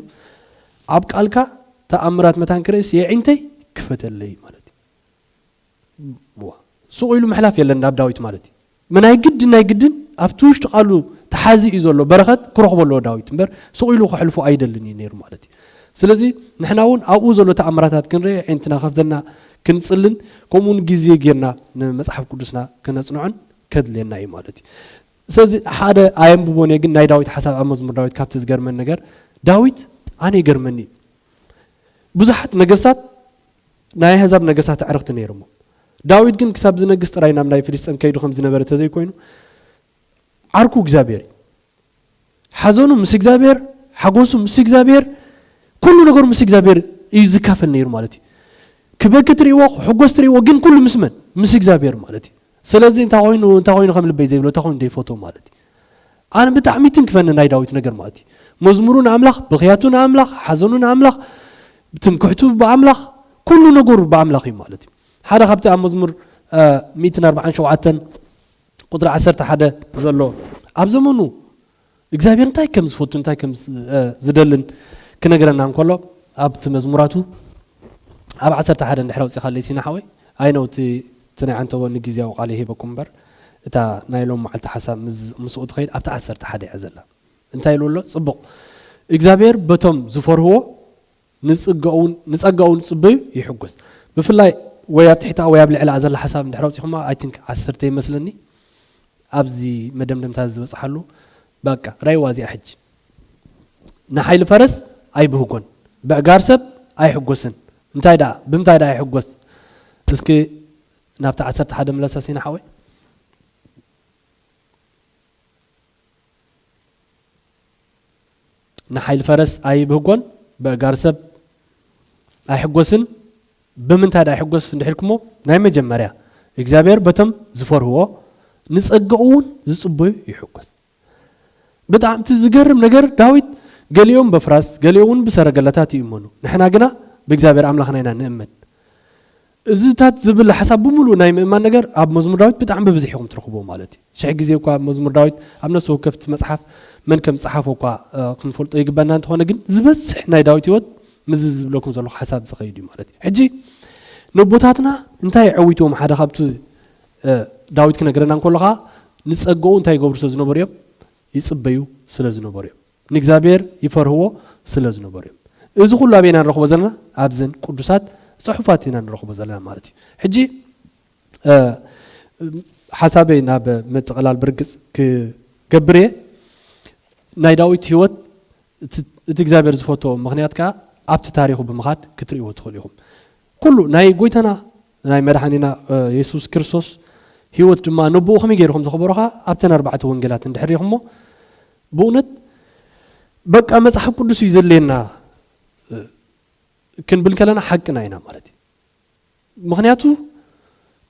ኣብ ቃልካ ተኣምራት መታን ክርእስ የዒንተይ ክፈተለይ ማለት እዩ። ሱቕ ኢሉ ምሕላፍ የለን ናብ ዳዊት ማለት እዩ። ምናይ ግድን ናይ ግድን ኣብቲ ውሽጢ ቃሉ ተሓዚ እዩ ዘሎ በረኸት ክረኽቦ ኣለዎ ዳዊት እምበር ስቕ ኢሉ ከሕልፎ ኣይደልን እዩ ነይሩ ማለት እዩ ስለዚ ንሕና እውን ኣብኡ ዘሎ ተኣምራታት ክንርኢ ዒንትና ከፍተና ክንጽልን ከምኡ እውን ግዜ ጌርና ንመጽሓፍ ቅዱስና ክነጽንዖን ከድልየና እዩ ማለት እዩ ስለዚ ሓደ ኣየንብቦን እየ ግን ናይ ዳዊት ሓሳብ ኣብ መዝሙር ዳዊት ካብቲ ዝገርመን ነገር ዳዊት ኣነ ይገርመኒ ብዙሓት ነገስታት ናይ ኣሕዛብ ነገስታት ኣዕርኽቲ ነይሮሞ። ዳዊት ግን ክሳብ ዝነግስ ጥራይ ናብ ናይ ፍልስጤም ከይዱ ከም ዝነበረ እንተ ዘይኮይኑ፣ ዓርኩ እግዚኣብሄር እዩ። ሓዘኑ ምስ እግዚኣብሄር፣ ሓጎሱ ምስ እግዚኣብሄር፣ ኩሉ ነገሩ ምስ እግዚኣብሄር እዩ ዝካፈል ነይሩ ማለት እዩ። ክበኪ ትርእይዎ፣ ክሕጎስ ትርእይዎ፣ ግን ኩሉ ምስ መን? ምስ እግዚኣብሄር ማለት እዩ። ስለዚ እንታይ ኮይኑ እንታይ ኮይኑ ከም ልበይ ዘይብሎ እንታይ ኮይኑ ዘይፈትዎ ማለት እዩ። ኣነ ብጣዕሚ ይትንክፈኒ ናይ ዳዊት ነገር ማለት መዝሙሩ ንኣምላኽ ብኽያቱ ንኣምላኽ ሓዘኑ ንኣምላኽ ትምክሕቱ ብኣምላኽ ኩሉ ነገሩ ብኣምላኽ እዩ ማለት እዩ ሓደ ካብቲ ኣብ መዝሙር 147 ቁፅሪ 11 ዘሎ ኣብ ዘመኑ እግዚኣብሔር እንታይ ከም ዝፈቱ እንታይ ከም ዝደልን ክነግረና እንከሎ ኣብቲ መዝሙራቱ ኣብ 11 ድሕረ ውፅኻለይ ሲና ሓወይ ኣይነውቲ እቲ ናይ ዓንተቦ ንግዝያዊ ቃል ይሂበኩም እምበር እታ ናይ ሎም መዓልቲ ሓሳብ ምስኡ ትኸይድ ኣብቲ ዓሰርተ ሓደ እያ ዘላ እንታይ ኢልዎ ኣሎ ጽቡቕ እግዚኣብሔር በቶም ዝፈርህዎ ንጸጋኡ ንጽበዩ ይሕጎስ ብፍላይ ወይ ኣብ ትሕታኣ ወይ ኣብ ልዕላኣ ዘላ ሓሳብ እንድሕር ኣውጺኹማ ኣይ ቲንክ ዓሰርተ ይመስለኒ ኣብዚ መደምደምታ ዝበጽሓሉ ባቃ ራይዋ እዚኣ ሕጂ ንሓይሊ ፈረስ ኣይብህጎን በእጋር ሰብ ኣይሕጎስን እንታይ ደኣ ብምታይ ደኣ ይሕጎስ እስኪ ናብቲ ዓሰርተ ሓደ ምለሳ ሲና ሓወይ ንሓይሊ ፈረስ ኣይብህጎን፣ በእጋር ሰብ ኣይሕጎስን፣ ብምንታይ ድኣ ይሕጎስ እንድሕ ኢልኩሞ፣ ናይ መጀመርያ እግዚኣብሄር በቶም ዝፈርህዎ ንጸጋኡውን ዝጽበዩ ይሕጎስ። ብጣዕሚ እቲ ዝገርም ነገር ዳዊት ገሊኦም በፍራስ ገሊኦውን ብሰረገላታት ይእመኑ ንሕና ግና ብእግዚኣብሄር ኣምላኽና ኢና ንእመን። እዚታት ዝብል ሓሳብ ብምሉኡ ናይ ምእማን ነገር ኣብ መዝሙር ዳዊት ብጣዕሚ ብብዝሒ ኢኹም ትረኽብዎ ማለት እዩ። ሽሕ ግዜ እኳ መዝሙር ዳዊት ኣብ ነፍሲ ወከፍ እቲ መጽሓፍ መን ከም ዝጸሓፎ እኳ ክንፈልጦ ይግበኣና እንተኾነ ግን ዝበዝሕ ናይ ዳዊት ህይወት ምስዚ ዝብለኩም ዘለኹ ሓሳብ ዝኸይድ እዩ ማለት እዩ። ሕጂ ነቦታትና እንታይ ኣዐዊትዎም ሓደ ካብቲ ዳዊት ክነግረና እንከሎ ከኣ ንጸጋኡ እንታይ ይገብሩ ስለ ዝነበሩ እዮም ይጽበዩ ስለ ዝነበሩ እዮም። ንእግዚኣብሔር ይፈርህዎ ስለ ዝነበሩ እዮም። እዚ ኩሉ ኣበይ ኢና ንረኽቦ ዘለና? ኣብዘን ቅዱሳት ጽሑፋት ኢና ንረኽቦ ዘለና ማለት እዩ። ሕጂ ሓሳበይ ናብ ምጥቕላል ብርግጽ ክገብር እየ። ናይ ዳዊት ህይወት እቲ እግዚኣብሔር ዝፈትዎ ምክንያት ከዓ ኣብቲ ታሪኹ ብምኻድ ክትርእይዎ ትኽእሉ ኢኹም። ኩሉ ናይ ጎይታና ናይ መድሓኒና የሱስ ክርስቶስ ህይወት ድማ ነብኡ ከመይ ገይሩ ከም ዘኽበሮ ከዓ ኣብተን ኣርባዕተ ወንጌላት እንድሕር ሪኢኹሞ ብእውነት በቃ መጽሓፍ ቅዱስ እዩ ዘድልየና ክንብል ከለና ሓቅና ኢና ማለት እዩ ምክንያቱ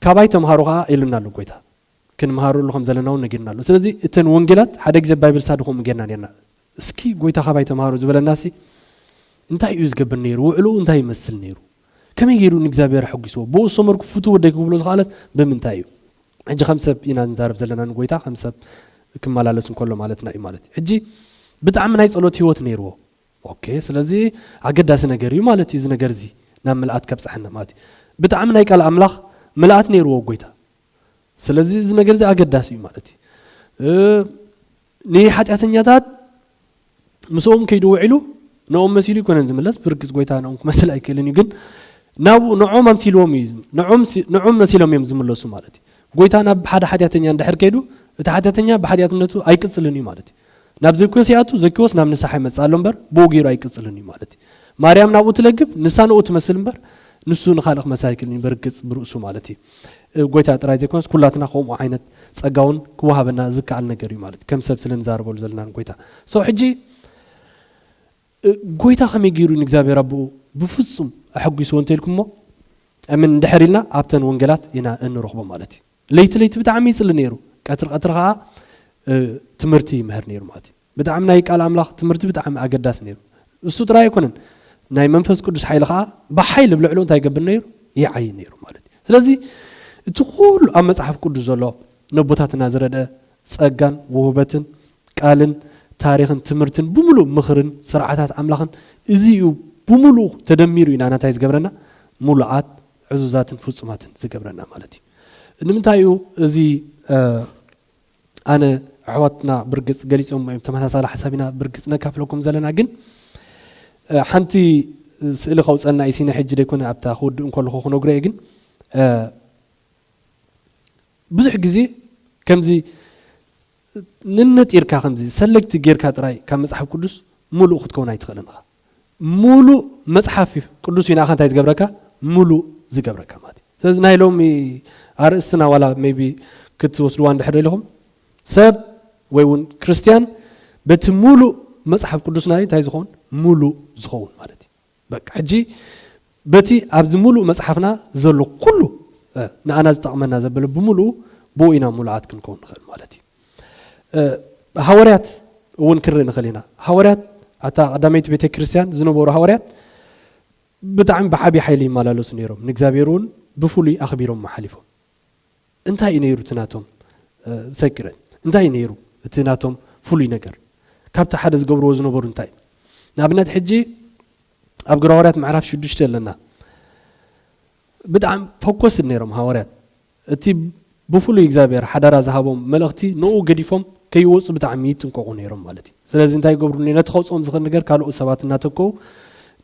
ካባይ ተምሃሩ ከዓ ኢሉና ኣሎ ጎይታ ክንምሃረሉ ከም ዘለና እውን ነጊርና ኣሎ ስለዚ እተን ወንጌላት ሓደ ግዜ ባይብል ስታዲ ከምኡ ጌርና ነርና እስኪ ጎይታ ካባይ ተምሃሩ ዝበለናሲ እንታይ እዩ ዝገብር ነይሩ ውዕልኡ እንታይ ይመስል ነይሩ ከመይ ገይሩ ንእግዚኣብሔር ኣሐጒስዎ? ብእኡ ዝሰመርኩ ፍቱው ወደይ ክብሎ ዝኸኣለስ ብምንታይ እዩ? ሕጂ ከም ሰብ ኢና ንዛረብ ዘለና ንጐይታ ከም ሰብ ክመላለስ እንከሎ ማለትና እዩ ማለት እዩ። ሕጂ ብጣዕሚ ናይ ጸሎት ህይወት ነይርዎ። ኦኬ ስለዚ ኣገዳሲ ነገር እዩ ማለት እዩ እዚ ነገር እዚ ናብ ምልኣት ከብጽሓና ማለት እዩ። ብጣዕሚ ናይ ቃል ኣምላኽ ምልኣት ነይርዎ ጐይታ። ስለዚ እዚ ነገር እዚ ኣገዳሲ እዩ ማለት እዩ። ንሓጢኣተኛታት ምስኦም ከይዱ ውዒሉ ንኦም መሲሉ ኣይኮነን ዝምለስ ብርግፅ ጎይታ ንኦም ክመስል ኣይክእልን እዩ ግን ናብኡ ንዖም ኣምሲልዎም እዩ ንዖም መሲሎም እዮም ዝምለሱ ማለት እዩ ጎይታ ናብ ሓደ ሓጢኣተኛ እንድሕር ከይዱ እቲ ሓጢኣተኛ ብሓጢኣትነቱ ኣይቅፅልን እዩ ማለት እዩ ናብ ዘኪዎስ ይኣቱ ዘኪዎስ ናብ ንስሓ ይመፅእ ኣሎ እምበር ብኡ ገይሩ ኣይቅፅልን እዩ ማለት እዩ ማርያም ናብኡ ትለግብ ንሳ ንኡ ትመስል እምበር ንሱ ንካልእ ክመስል ኣይክእልን እዩ በርግፅ ብርእሱ ማለት እዩ ጎይታ ጥራይ ዘይኮነስ ኩላትና ከምኡ ዓይነት ጸጋ ውን ክወሃበና ዝከኣል ነገር እዩ ማለት እዩ ከም ሰብ ስለ ንዛረበሉ ዘለና ንጎይታ so ሕጂ ጎይታ ከመይ ገይሩ እዩ ንእግዚኣብሔር ኣቦኡ ብፍጹም ኣሐጒስዎ እንተ ኢልኩሞ I mean እንድሕር ኢልና ኣብተን ወንጌላት ኢና እንረኽቦ ማለት እዩ ለይቲ ለይቲ ብጣዕሚ ይጽሊ ነይሩ ቀትሪ ቀትሪ ከኣ ትምህርቲ ይምህር ነይሩ ማለት እዩ ብጣዕሚ ናይ ቃል ኣምላኽ ትምህርቲ ብጣዕሚ ኣገዳሲ ነይሩ እሱ ጥራይ ኣይኮነን ናይ መንፈስ ቅዱስ ሓይሊ ከኣ ብሓይሊ ብልዕሉ እንታይ ይገብር ነይሩ ይዓይ ነይሩ ማለት እዩ ስለዚ እቲ ኩሉ ኣብ መጽሓፍ ቅዱስ ዘሎ ነቦታትና ዝረድአ ጸጋን ውህበትን ቃልን ታሪኽን ትምህርትን ብምሉእ ምኽርን ስርዓታት ኣምላኽን እዚ እዩ ብምሉኡ ተደሚሩ እዩ ናና እንታይ ዝገብረና ሙሉኣት ዕዙዛትን ፍጹማትን ዝገብረና ማለት እዩ ንምንታይ እዩ እዚ ኣነ ኣሕዋትና ብርግጽ ገሊጾሞ እዮም ተመሳሳሊ ሓሳብ ኢና ብርግጽ ነካፍለኩም ዘለና ግን ሓንቲ ስእሊ ከውጸና እዩ ሲነ ሕጂ ደይኮነ ኣብታ ክውድእ እንከለኹ ክነግሮ እየ ግን ብዙሕ ግዜ ከምዚ ንንጢርካ ከምዚ ሰለጅቲ ጌርካ ጥራይ ካብ መጽሓፍ ቅዱስ ሙሉእ ክትከውን ኣይትኽእልን ኢኻ ሙሉእ መጽሓፍ ቅዱስ እዩ ንኣኻ እንታይ ዝገብረካ ሙሉእ ዝገብረካ ማለት እዩ ስለዚ ናይ ሎሚ ኣርእስትና ዋላ ሜቢ ክትወስድዋ እንድሕር ደሊኹም ሰብ ወይ እውን ክርስትያን በቲ ሙሉእ መጽሓፍ ቅዱስና እንታይ ዝኸውን ሙሉእ ዝኸውን ማለት እዩ በቃ ሕጂ በቲ ኣብዚ ምሉእ መጽሓፍና ዘሎ ኩሉ ንኣና ዝጠቕመና ዘበለ ብምሉኡ ብኡ ኢና ምሉዓት ክንከውን ንኸእል ማለት እዩ። ሃወርያት እውን ክንርኢ ንኸእል ኢና። ሃወርያት ኣታ ቀዳመይቲ ቤተ ክርስቲያን ዝነበሩ ሃወርያት ብጣዕሚ ብዓብዪ ሓይሊ ይመላለሱ ነይሮም። ንእግዚኣብሔር እውን ብፍሉይ ኣኽቢሮም ሓሊፎም። እንታይ እዩ ነይሩ እቲ ናቶም ሰክረት? እንታይ እዩ ነይሩ እቲ ናቶም ፍሉይ ነገር? ካብቲ ሓደ ዝገብርዎ ዝነበሩ እንታይ ንኣብነት ሕጂ ኣብ ግብረ ሃዋርያት ምዕራፍ ሽዱሽተ ኣለና ብጣዕሚ ፈኮስድ ነይሮም ሃዋርያት እቲ ብፍሉይ እግዚኣብሔር ሓደራ ዝሃቦም መልእኽቲ ንኡ ገዲፎም ከይወፁ ብጣዕሚ ይጥንቀቑ ነይሮም ማለት እዩ ስለዚ እንታይ ይገብሩ ነቲ ከውፅኦም ዝኽእል ነገር ካልኦት ሰባት እናተከኡ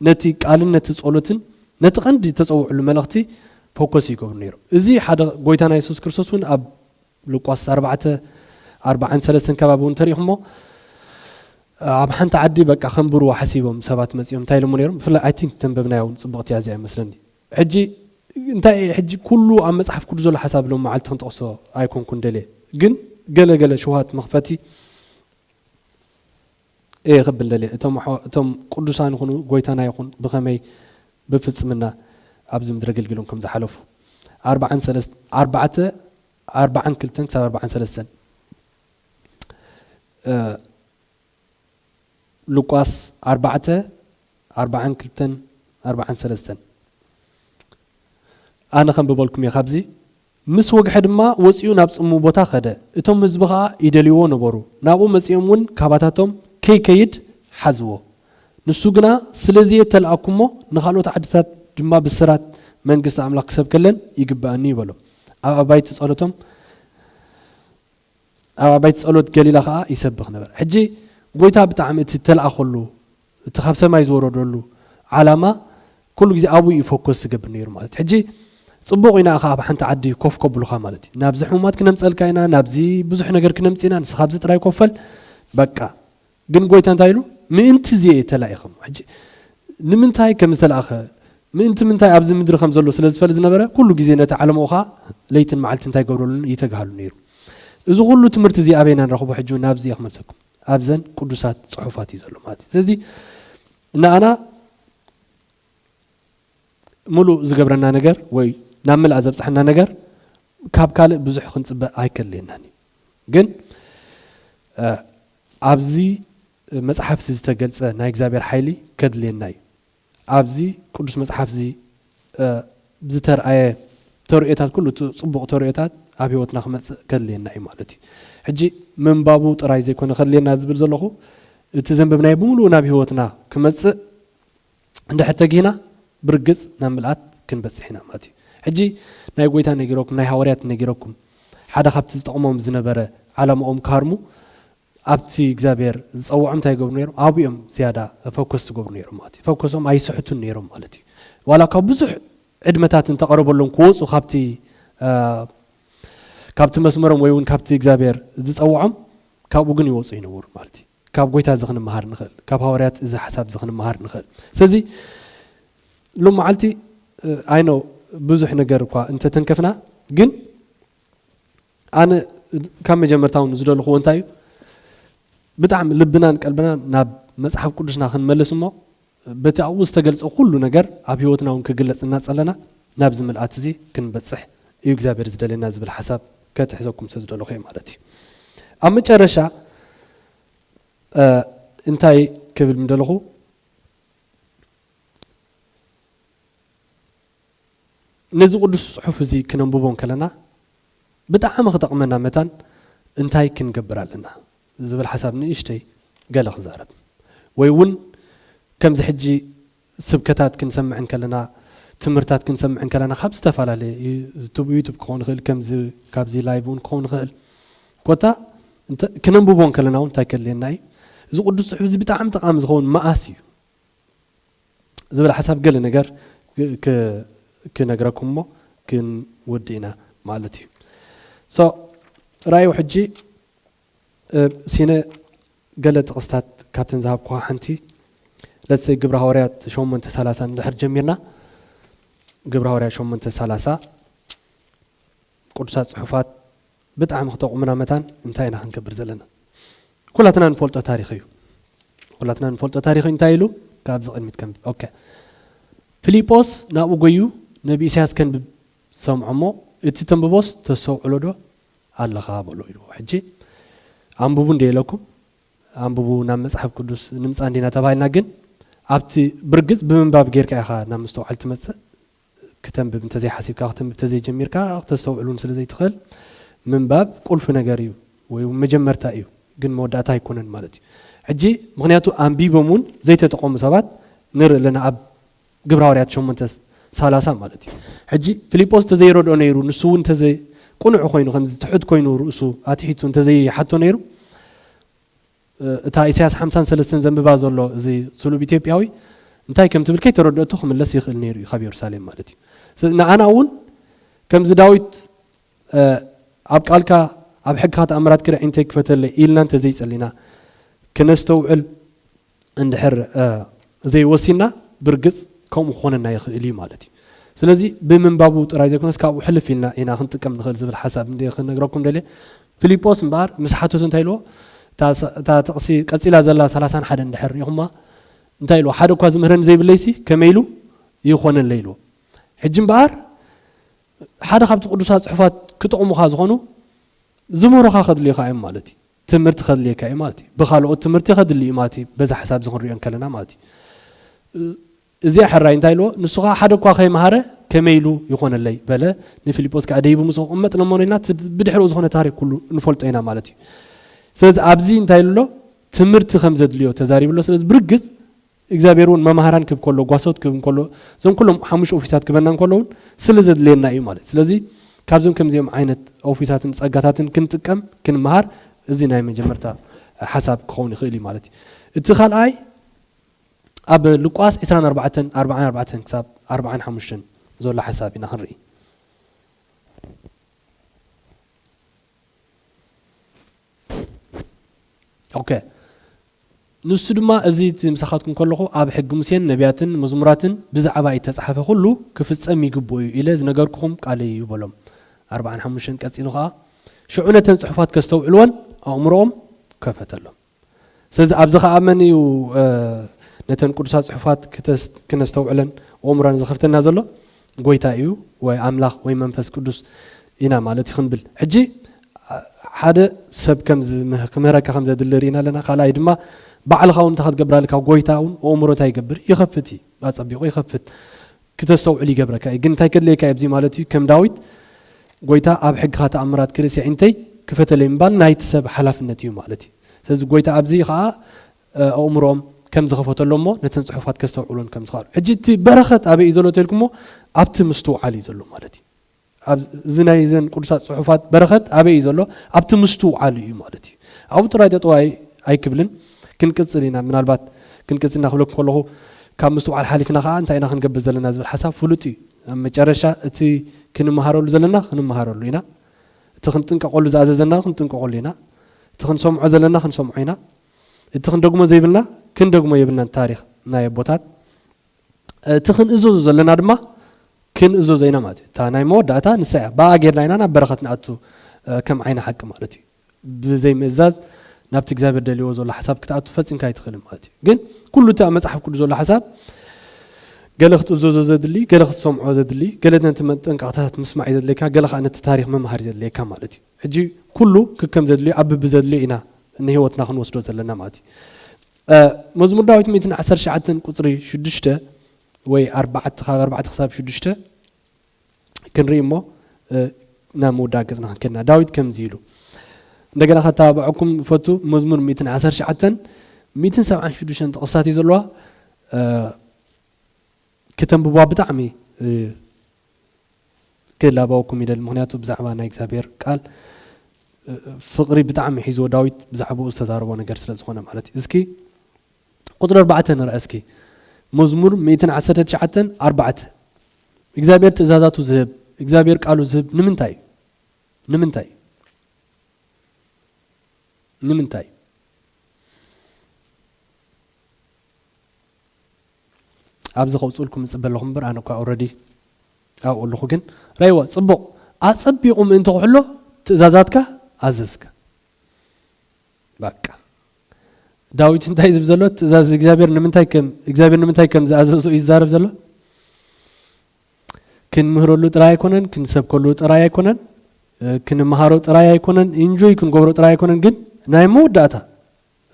ነቲ ቃልን ነቲ ጸሎትን ነቲ ቀንዲ ተፀውዕሉ መልእኽቲ ፈኮስ ይገብሩ ነይሮም እዚ ሓደ ጎይታና የሱስ ክርስቶስ እውን ኣብ ሉቃስ ኣርባዕተ ኣርብዓን ሰለስተን ከባቢ እውን ተሪእኹሞ ኣብ ሓንቲ ዓዲ በቃ ከንብርዎ ሓሲቦም ሰባት መፂኦም እንታይ ኢሎሞ ነይሮም ብፍላይ ኣይ ቲንክ ተንበብናያ እውን ፅብቕቲ እያ እዚኣ ይመስለኒ ሕጂ እንታይ እየ ሕጂ ኩሉ ኣብ መፅሓፍ ቅዱስ ዘሎ ሓሳብ ሎም መዓልቲ ክንጠቕሶ ኣይኮንኩን ደልየ ግን ገለ ገለ ሽውሃት መኽፈቲ እየ ክብል ደልየ እቶም ኣሕዋ እቶም ቅዱሳን ይኹኑ ጎይታና ይኹን ብኸመይ ብፍጽምና ኣብዚ ምድሪ ኣገልጊሎም ከም ዝሓለፉ ኣርብዓን ሰለስተ ኣርባዕተ ኣርብዓን ክልተን ክሳብ ኣርብዓን ሰለስተን ሉቃስ ኣርባዕተ ኣርብዓን ክልተን ኣርብዓን ሰለስተን ኣነ ከም ብበልኩም እየ ካብዚ ምስ ወግሐ ድማ ወጺኡ ናብ ጽምው ቦታ ከደ። እቶም ህዝቢ ከኣ ይደልይዎ ነበሩ። ናብኡ መጺኦም እውን ካባታቶም ከይከይድ ሓዝዎ። ንሱ ግና ስለዚ እተለኣኩ እሞ ንኻልኦት ዓድታት ድማ ብስራት መንግስቲ ኣምላኽ ክሰብከለን ይግብኣኒ እዩ በሎም። ኣብ ኣባይቲ ጸሎቶም ኣብ ኣባይቲ ጸሎት ገሊላ ከኣ ይሰብኽ ነበረ። ሕጂ ጐይታ ብጣዕሚ እቲ እተላእከሉ እቲ ካብ ሰማይ ዝወረደሉ ዓላማ ኩሉ ግዜ ኣብኡ እዩ ፎከስ ዝገብር ነይሩ ማለት እዩ። ሕጂ ጽቡቕ ኢና እኻ ኣብ ሓንቲ ዓዲ ኮፍ ከብሉኻ ማለት እዩ። ናብዚ ሕሙማት ክነምጸልካ ኢና፣ ናብዚ ብዙሕ ነገር ክነምጽእ ኢና፣ ንስኻ ኣብዚ ጥራይ ኮፈል በቃ። ግን ጎይታ እንታይ ኢሉ? ምእንቲ እዚ እየ ተላኢኸም። ሕጂ ንምንታይ ከም ዝተላእኸ፣ ምእንቲ ምንታይ ኣብዚ ምድሪ ከም ዘሎ ስለ ዝፈል ዝነበረ፣ ኩሉ ግዜ ነቲ ዓለምኡ ኸኣ ለይትን መዓልትን እንታይ ይገብረሉን ይተግሃሉን ነይሩ። እዚ ኩሉ ትምህርቲ እዚ ኣበይ ኢና ንረኽቦ? ሕጂ እውን ናብዚ እየ ክመልሰኩም። ኣብዘን ቅዱሳት ጽሑፋት እዩ ዘሎ ማለት እዩ። ስለዚ ንኣና ምሉእ ዝገብረና ነገር ወይ ናብ ምልኣ ዘብጽሓና ነገር ካብ ካልእ ብዙሕ ክንጽበ ኣይከድልየናን እዩ። ግን ኣብዚ መጽሓፍ'ዚ ዝተገልጸ ናይ እግዚኣብሔር ሓይሊ ከድልየና እዩ። ኣብዚ ቅዱስ መጽሓፍ'ዚ ዝተርኣየ ተርእዮታት ኩሉ እቲ ጽቡቕ ተርእዮታት ኣብ ሕይወትና ክመጽእ ከድልየና እዩ ማለት እዩ። ሕጂ ምንባቡ ጥራይ ዘይኮነ ከድልየና ዝብል ዘለኹ እቲ ዘንበብናዮ ብምሉኡ ናብ ሕይወትና ክመጽእ እንድሕር ተጊህና ብርግጽ ናብ ምልኣት ክንበጽሕ ኢና ማለት እዩ። ሕጂ ናይ ጎይታ ነጊረኩም ናይ ሃዋርያት ነጊረኩም ሓደ ካብቲ ዝጠቕሞም ዝነበረ ዓላማኦም ክሃርሙ ኣብቲ እግዚኣብሔር ዝጸውዖም እንታይ ይገብሩ ነይሮም ኣብኡ እዮም ዝያዳ ፈኮስ ዝገብሩ ነይሮም ማለት እዩ። ፈኮሶም ኣይስሕቱን ነይሮም ማለት እዩ። ዋላ እኳ ብዙሕ ዕድመታት እንተቐረበሎም ክወጹ ካብቲ ካብቲ መስመሮም ወይ እውን ካብቲ እግዚኣብሔር ዝጸውዖም ካብኡ ግን ይወጹ ኣይነበሩን ማለት እዩ። ካብ ጎይታ እዚ ክንመሃር ንክእል ካብ ሃዋርያት እዚ ሓሳብ እዚ ክንመሃር ንክእል ስለዚ ሎም መዓልቲ ኣይ ኖው ብዙሕ ነገር እኳ እንተተንከፍና ግን ኣነ ካብ መጀመርታ እውን ዝደልኽዎ እንታይ እዩ ብጣዕሚ ልብናን ቀልብናን ናብ መፅሓፍ ቅዱስና ክንመልስ እሞ በቲ ኣብኡ ዝተገልጸ ኩሉ ነገር ኣብ ሕይወትና እውን ክግለጽ እናጸለና ናብዚ ምልኣት እዚ ክንበጽሕ እዩ እግዚኣብሔር ዝደልየና ዝብል ሓሳብ ከትሕዘኩም ስለ ዝደለኹ እየ ማለት እዩ ኣብ መጨረሻ እንታይ ክብል ምደለኹ ነዚ ቅዱስ ጽሑፍ እዚ ክነንብቦ እንከለና ብጣዕሚ ክጠቕመና መታን እንታይ ክንገብር ኣለና ዝብል ሓሳብ ንእሽተይ ገለ ክዛረብ። ወይ እውን ከምዚ ሕጂ ስብከታት ክንሰምዕ እንከለና ትምህርታት ክንሰምዕ እንከለና ካብ ዝተፈላለየ ዩቱብ ዩቱብ ክኸውን ይኽእል ከምዚ ካብዚ ላይቭ እውን ክኸውን ይኽእል ኮታ ክነንብቦ እንከለና እውን እንታይ ከድልየና እዩ እዚ ቅዱስ ጽሑፍ እዚ ብጣዕሚ ጠቓሚ ዝኸውን መኣስ እዩ ዝብል ሓሳብ ገለ ነገር ክነግረኩም እሞ ክንወዲ ኢና ማለት እዩ ሶ ራእዩ ሕጂ ሲነ ገለ ጥቕስታት ካብተን ዝሃብኩዋ ሓንቲ ለሰይ ግብረ ሃዋርያት ሸሞንተ ሰላሳ እንድሕር ጀሚርና ግብረ ሃዋርያት ሸሞንተ ሰላሳ ቅዱሳት ጽሑፋት ብጣዕሚ ክጠቕሙና መታን እንታይ ኢና ክንገብር ዘለና? ኩላትና ንፈልጦ ታሪኽ እዩ። ኩላትና ንፈልጦ ታሪኽ እንታይ ኢሉ ካብዚ ቅድሚት ከንብብ ኦከ ፊሊጶስ ናብኡ ጎዩ ነቢ ኢሳያስ ከንብብ ሰምዖ እሞ እቲ ተንብቦስ ተሰውዕሎ ዶ ኣለኻ በሎ ኢልዎ ሕጂ ኣንብቡ እንደ ኢለኩም ኣንብቡ ናብ መጽሓፍ ቅዱስ ንምጻ እንዲና ተባሂልና ግን ኣብቲ ብርግጽ ብምንባብ ጌርካ ኢኻ ናብ ምስተውዓል ትመጽእ ክተንብብ እንተዘይሓሲብካ ክተንብብ ተዘይጀሚርካ ክተስተውዕል ውን ስለዘይትኽእል ምንባብ ቁልፊ ነገር እዩ ወይ ውን መጀመርታ እዩ ግን መወዳእታ ኣይኮነን ማለት እዩ ሕጂ ምክንያቱ ኣንቢቦም ውን ዘይተጠቐሙ ሰባት ንርኢ ኣለና ኣብ ግብረ ሃዋርያት ሸሞንተ ሳላሳ ማለት እዩ ሕጂ ፊሊጶስ እንተዘይረድኦ ነይሩ ንሱ ውን እንተዘ ቁኑዕ ኮይኑ ከምዚ ትሑት ኮይኑ ርእሱ ኣትሒቱ እንተዘይሓቶ ነይሩ እታ ኢሳያስ ሓምሳን ሰለስተን ዘንብባ ዘሎ እዚ ስሉብ ኢትዮጵያዊ እንታይ ከም ትብል ከይተረድኦቶ ክምለስ ይኽእል ነይሩ እዩ ካብ የሩሳሌም ማለት እዩ ስለዚ ንኣና እውን ከምዚ ዳዊት ኣብ ቃልካ ኣብ ሕግካ ተኣምራት ክርኢ እንተይ ክፈተለይ ኢልና እንተዘይጸሊና ክነስተውዕል እንድሕር ዘይወሲና ብርግጽ ከምኡ ክኾነና ይኽእል እዩ ማለት እዩ ስለዚ ብምንባቡ ጥራይ ዘይኮነስ ካብኡ ሕልፍ ኢልና ኢና ክንጥቀም ንኽእል ዝብል ሓሳብ እንደ ክነግረኩም ደልየ ፊሊጶስ እምበኣር ምስ ሓተቱ እንታይ ኢልዎ? እታ እታ ጥቕሲ ቀጺላ ዘላ ሰላሳን ሓደን እንድሕር ርኢኹማ እንታይ ኢልዎ? ሓደ እኳ ዝምህረኒ ዘይብለይሲ ከመይ ኢሉ ይኾነለይ ኢልዎ። ሕጂ እምበኣር ሓደ ካብቲ ቅዱሳት ጽሑፋት ክጠቕሙኻ ዝኾኑ ዝምህሩኻ ከድልዩኻ እዮም ማለት እዩ። ትምህርቲ ከድልየካ እዩ ማለት እዩ። ብኻልኦት ትምህርቲ ከድሊ እዩ ማለት እዩ። በዛ ሓሳብ እዚ ክንሪኦ እንከለና ማለት እዩ። እዚ ሕራይ እንታይ ኢልዎ፣ ንሱ ኸኣ ሓደ እኳ ኸይመሃረ ከመይ ኢሉ ይኾነለይ? በለ። ንፊልጶስ ከኣ ደይቡ ምስ ኣቖመጥ ነሞነ ኢልና እቲ ብድሕረኡ ዝኾነ ታሪኽ ኩሉ ንፈልጦ ኢና ማለት እዩ። ስለዚ ኣብዚ እንታይ ኢሉ ኣሎ፣ ትምህርቲ ከም ዘድልዮ ተዛሪቡ ኣሎ። ስለዚ ብርግጽ እግዚኣብሄር እውን መማህራን ክህብ ከሎ፣ ጓሶት ክህብ እንከሎ፣ እዞም ኩሎም ሓሙሽተ ኦፊሳት ክህበና እንከሎ እውን ስለ ዘድልየና እዩ ማለት እዩ። ስለዚ ካብዞም ከምዚኦም ዓይነት ኦፊሳትን ጸጋታትን ክንጥቀም ክንመሃር እዚ ናይ መጀመርታ ሓሳብ ክኸውን ይኽእል እዩ ማለት እዩ። እቲ ካልኣይ፣ ኣብ ሉቃስ ዕስራን ኣርባዕተን፣ ኣርብዓን ኣርባዕተን ክሳብ ኣርብዓን ሓሙሽተን ዘሎ ሓሳብ ኢና ክንርኢ። ኦከ ንሱ ድማ እዚ እቲ ምሳኻትኩም ከለኹ ኣብ ሕጊ ሙሴን ነቢያትን መዝሙራትን ብዛዕባይ እተጻሕፈ ኩሉ ክፍጸም ይግብኦ እዩ ኢለ ዝነገርኩኹም ቃለይ እዩ በሎም። ኣርብዓን ሓሙሽተን ቀጺሉ ኸኣ ሽዑ ነተን ጽሑፋት ከስተውዕልወን ኣእምሮኦም ከፈተሎም። ስለዚ ኣብዚ ኸኣ መን እዩ ነተን ቅዱሳት ጽሑፋት ክነስተውዕለን ኦእምሮና ዘኸፍተልና ዘሎ? ጎይታ እዩ ወይ ኣምላኽ ወይ መንፈስ ቅዱስ ኢና ማለት እዩ ክንብል ሕጂ ሓደ ሰብ ክምህረካ ከም ዘድሊ ርኢና ኣለና ካልኣይ ድማ ባዕልኻ እውን እንታይ ክትገብር ኣለካ ጎይታ እውን ኦእምሮ እንታይ ይገብር ይኸፍት እዩ ኣጸቢቑ ይኸፍት ክተስተውዕል ይገብረካ እዩ ግን እንታይ ከድልየካ እዩ ኣብዚ ማለት እዩ ከም ዳዊት ጎይታ ኣብ ሕግኻ ተኣምራት ክርእስ የዒንተይ ክፈተለይ ምባል ናይቲ ሰብ ሓላፍነት እዩ ማለት እዩ ስለዚ ጎይታ ኣብዚ ኸኣ ኣእምሮኦም ከም ዝኸፈተሎም እሞ ነተን ጽሑፋት ከስተውዕሉን ከም ዝኸኣሉ ሕጂ እቲ በረኸት ኣበይ እዩ ዘሎ ተልኩሞ ኣብቲ ምስትውዓል እዩ ዘሎ ማለት እዩ ኣብዚ ናይ እዘን ቅዱሳት ጽሑፋት በረኸት ኣበይ እዩ ዘሎ? ኣብቲ ምስትውዓል እዩ ማለት እዩ። ኣብኡ ጥራይ ጠጠው ኣይ ኣይክብልን፣ ክንቅጽል ኢና። ምናልባት ክንቅጽል ኢና ክብለኩም ከለኹ ካብ ምስትውዓል ሓሊፍና ከኣ እንታይ ኢና ክንገብር ዘለና ዝብል ሓሳብ ፍሉጥ እዩ። ኣብ መጨረሻ እቲ ክንመሃረሉ ዘለና ክንመሃረሉ ኢና፣ እቲ ክንጥንቀቐሉ ዝኣዘዘና ክንጥንቀቐሉ ኢና፣ እቲ ክንሰምዖ ዘለና ክንሰምዖ ኢና፣ እቲ ክንደግሞ ዘይብልና ክንደግሞ የብልናን ታሪኽ ናይ ኣቦታት። እቲ ክንእዘዞ ዘለና ድማ ክንእዘዞ ኢና ማለት እዩ። እታ ናይ መወዳእታ ንሳ እያ። ብኣኣ ጌርና ኢና ናብ በረኸት ንኣቱ ከም ዓይኒ ሓቂ ማለት እዩ። ብዘይምእዛዝ ናብቲ እግዚኣብሔር ደልዎ ዘሎ ሓሳብ ክትኣቱ ፈጺምካ ኣይትኽእልን ማለት እዩ። ግን ኩሉ እቲ ኣብ መጽሓፍ ቅዱስ ዘሎ ሓሳብ ገለ ክትእዘዞ ዘድሊ፣ ገለ ክትሰምዖ ዘድሊ፣ ገለ ነቲ መጠንቀቕታታት ምስማዕ እዩ ዘድልየካ፣ ገለ ከኣ ነቲ ታሪኽ ምምሃር እዩ ዘድልየካ ማለት እዩ። ሕጂ ኩሉ ክከም ዘድልዮ ኣብ ብብዘድልዮ ኢና ንህይወትና ክንወስዶ ዘለና ማለት እዩ። መዝሙር ዳዊት ሚእትን ዓሰርተ ትሽዓተን ቁፅሪ ሽዱሽተ ወይ ኣርባዕተ ካብ ኣርባዕተ ክሳብ ሽዱሽተ ክንርኢ እሞ እ፣ ናብ ምውዳእ ገፅና ክንከድና ዳዊት ከምዚ ኢሉ እንደገና ከተባብዐኩም ፈቱ መዝሙር ሚእትን ዓሰርተ ትሽዓተን ሚእትን ሰብዓን ሽዱሽተን ጥቕስታት እዩ ዘለዋ እ፣ ክተንብቧ ብጣዕሚ እ፣ ክላበወኩም ይደሊ ምክንያቱ ብዛዕባ ናይ እግዚኣብሔር ቃል ፍቅሪ ብጣዕሚ ሒዝዎ ዳዊት ብዛዕባኡ ዝተዛረቦ ነገር ስለ ዝኮነ ማለት እዩ እስኪ ቁፅሪ ኣርባዕተ ንርኣ እስኪ መዝሙር ሚእትን ዓሰርተ ትሽዓተን ኣርባዕተ እግዚኣብሔር ትእዛዛቱ ዝህብ እግዚኣብሔር ቃሉ ዝህብ ንምንታይ እዩ ንምንታይ ንምንታይ ኣብዚ ከውጽኡልኩም ንጽበ ኣለኹ እምበር ኣነ እኳ ኦረዲ ኣብኡ ኣለኹ ግን ረይዋ ጽቡቕ ኣጸቢቑ ምእንቲ ክሕሎ ትእዛዛትካ ኣዘዝካ ባቃ ዳዊት እንታይ ዝብ ዘሎ ትእዛዝ እግዚኣብሔር ንምንታይ ከም እግዚኣብሔር ንምንታይ ከም ዝኣዘዞ እዩ ዝዛረብ ዘሎ ክንምህረሉ ጥራይ ኣይኮነን ክንሰብከሉ ጥራይ ኣይኮነን ክንመሃሮ ጥራይ ኣይኮነን ኢንጆይ ክንገብሮ ጥራይ ኣይኮነን ግን ናይ መወዳእታ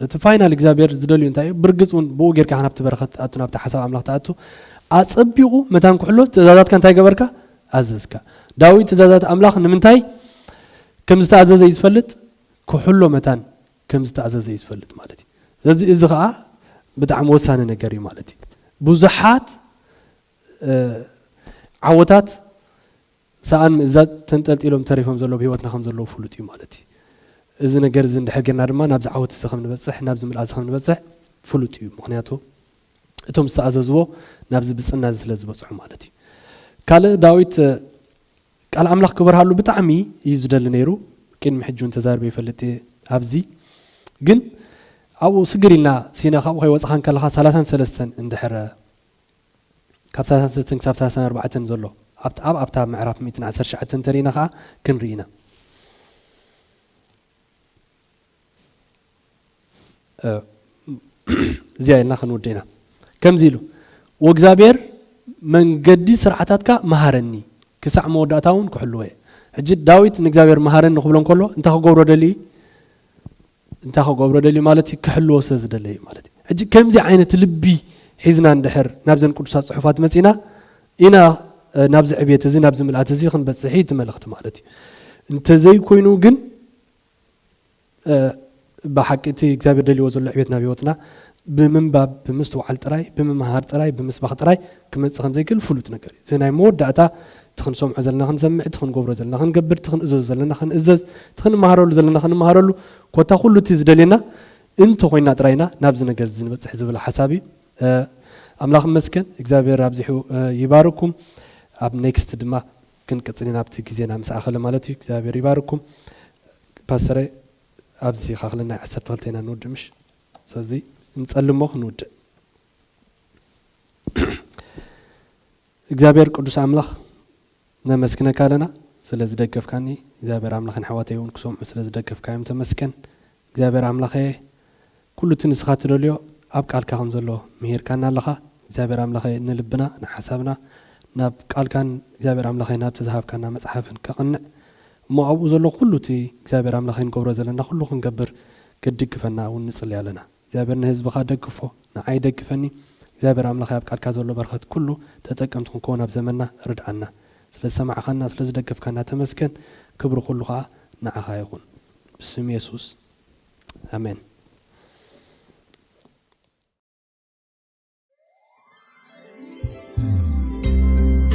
እቲ ፋይናል እግዚኣብሔር ዝደልዩ እንታይ እዩ ብርግጽ እውን ብኡ ጌርካ ኢኻ ናብቲ በረኸት ትኣቱ ናብቲ ሓሳብ ኣምላኽ ትኣቱ ኣጸቢቑ መታን ክሕሎ ትእዛዛትካ እንታይ ገበርካ ኣዘዝካ ዳዊት ትእዛዛት ኣምላኽ ንምንታይ ከም ዝተኣዘዘ እዩ ዝፈልጥ ክሕሎ መታን ከም ዝተኣዘዘ እዩ ዝፈልጥ ማለት እዩ ስለዚ እዚ ከዓ ብጣዕሚ ወሳኒ ነገር እዩ ማለት እዩ ብዙሓት ዓወታት ሰኣን ምእዛዝ ተንጠልጢሎም ተሪፎም ዘለዉ ብህይወትና ከም ዘለዉ ፍሉጥ እዩ ማለት እዩ። እዚ ነገር እዚ እንድሕር ጌርና ድማ ናብዚ ዓወት እዚ ከም ንበጽሕ ናብዚ ምልኣት እዚ ከም ንበጽሕ ፍሉጥ እዩ። ምኽንያቱ እቶም ዝተኣዘዝዎ ናብዚ ብጽና እዚ ስለ ዝበጽሑ ማለት እዩ። ካልእ ዳዊት ቃል ኣምላኽ ክበርሃሉ ብጣዕሚ እዩ ዝደሊ ነይሩ። ቅድሚ ሕጂ እውን ተዛርበ ይፈልጥ እየ ኣብዚ። ግን ኣብኡ ስግር ኢልና ሲና ካብኡ ከይወጻኻ እንከለኻ ሳላሳን ሰለስተን እንድሕር ካብ ሳልሳን ሰለስተን ክሳብ ሳልሳን ኣርባዕተን ዘሎ ኣብቲ ኣብ ኣብታ ምዕራፍ ሚእትን ዓሰርተ ትሽዓተን እንተሪኢና ከኣ ክንሪኢ ኢና። እዚኣ ኢልና ክንውድእ ኢና። ከምዚ ኢሉ ወእግዚኣብሔር መንገዲ ስርዓታትካ መሃረኒ ክሳዕ መወዳእታ እውን ክሕልዎ እየ። ሕጂ ዳዊት ንእግዚኣብሔር መሃረኒ ክብሎ እንከሎ እንታይ ክገብሮ ደልዩ እዩ? እንታይ ክገብሮ ደልዩ ማለት እዩ ክሕልዎ ስለ ዝደለ እዩ ማለት እዩ ሕጂ ከምዚ ዓይነት ልቢ ሒዝና እንድሕር ናብዘን ቅዱሳት ጽሑፋት መጺና ኢና ናብዚ ዕብየት እዚ ናብዚ ምልኣት እዚ ክንበጽሕ እዩ እቲ መልእኽቲ ማለት እዩ እንተዘይኮይኑ ግን ብሓቂ እቲ እግዚኣብሔር ደልዎ ዘሎ ዕብየት ናብ ህይወትና ብምንባብ፣ ብምስትውዓል ጥራይ፣ ብምምሃር ጥራይ፣ ብምስባኽ ጥራይ ክመጽእ ከም ዘይክእል ፍሉጥ ነገር እዩ። እዚ ናይ መወዳእታ እቲ ክንሰምዖ ዘለና ክንሰምዕ፣ እቲ ክንገብሮ ዘለና ክንገብር፣ እቲ ክንእዘዞ ዘለና ክንእዘዝ፣ እቲ ክንመሃረሉ ዘለና ክንመሃረሉ፣ ኮታ ኩሉ እቲ ዝደልየና እንተ ኮይንና ጥራይ ኢና ናብዚ ነገር እዚ ንበጽሕ ዝብል ሓሳብ እዩ። ኣምላኽ ይመስገን እግዚኣብሄር ኣብዚሑ ይባርኩም። ኣብ ኔክስት ድማ ክንቅጽል ኢና ኣብቲ ግዜና ምስ ኣኸለ ማለት እዩ። እግዚኣብሄር ይባርኩም። ፓስተረይ ኣብዚ ካክልና ዓሰርተ ክልተ ኢና ንውድእ ምሽ። ሰዚ ንጸሊ እሞ ክንውድእ። እግዚኣብሔር ቅዱስ ኣምላኽ ነመስግነካ ኣለና ስለ ዝደገፍካኒ እግዚኣብሔር ኣምላኽን ኣሕዋተይ እውን ክሰምዑ ስለ ዝደገፍካዮም ተመስገን እግዚኣብሔር ኣምላኸየ ኩሉ እቲ ንስኻ ትደልዮ ኣብ ቃልካ ከም ዘሎ ምሂርካና ኣለኻ እግዚኣብሔር ኣምላኸ ንልብና ንሓሳብና ናብ ቃልካን እግዚኣብሔር ኣምላኸይ ናብቲ ዝሃብካና መፅሓፍን ከቕንዕ እሞ ኣብኡ ዘሎ ኩሉ እቲ እግዚኣብሔር ኣምላኸይ ንገብሮ ዘለና ኩሉ ክንገብር ክትድግፈና እውን ንጽሊ ኣለና እግዚኣብሔር ንህዝብኻ ደግፎ ንዓይ ደግፈኒ እግዚኣብሔር ኣምላኸይ ኣብ ቃልካ ዘሎ በረኸት ኩሉ ተጠቀምቲ ክንከውን ኣብ ዘመንና ርድኣና ስለ ዝሰማዕኻና ስለ ዝደገፍካና ተመስገን ክብሪ ኩሉ ከኣ ንዓኻ ይኹን ብስም የሱስ ኣሜን።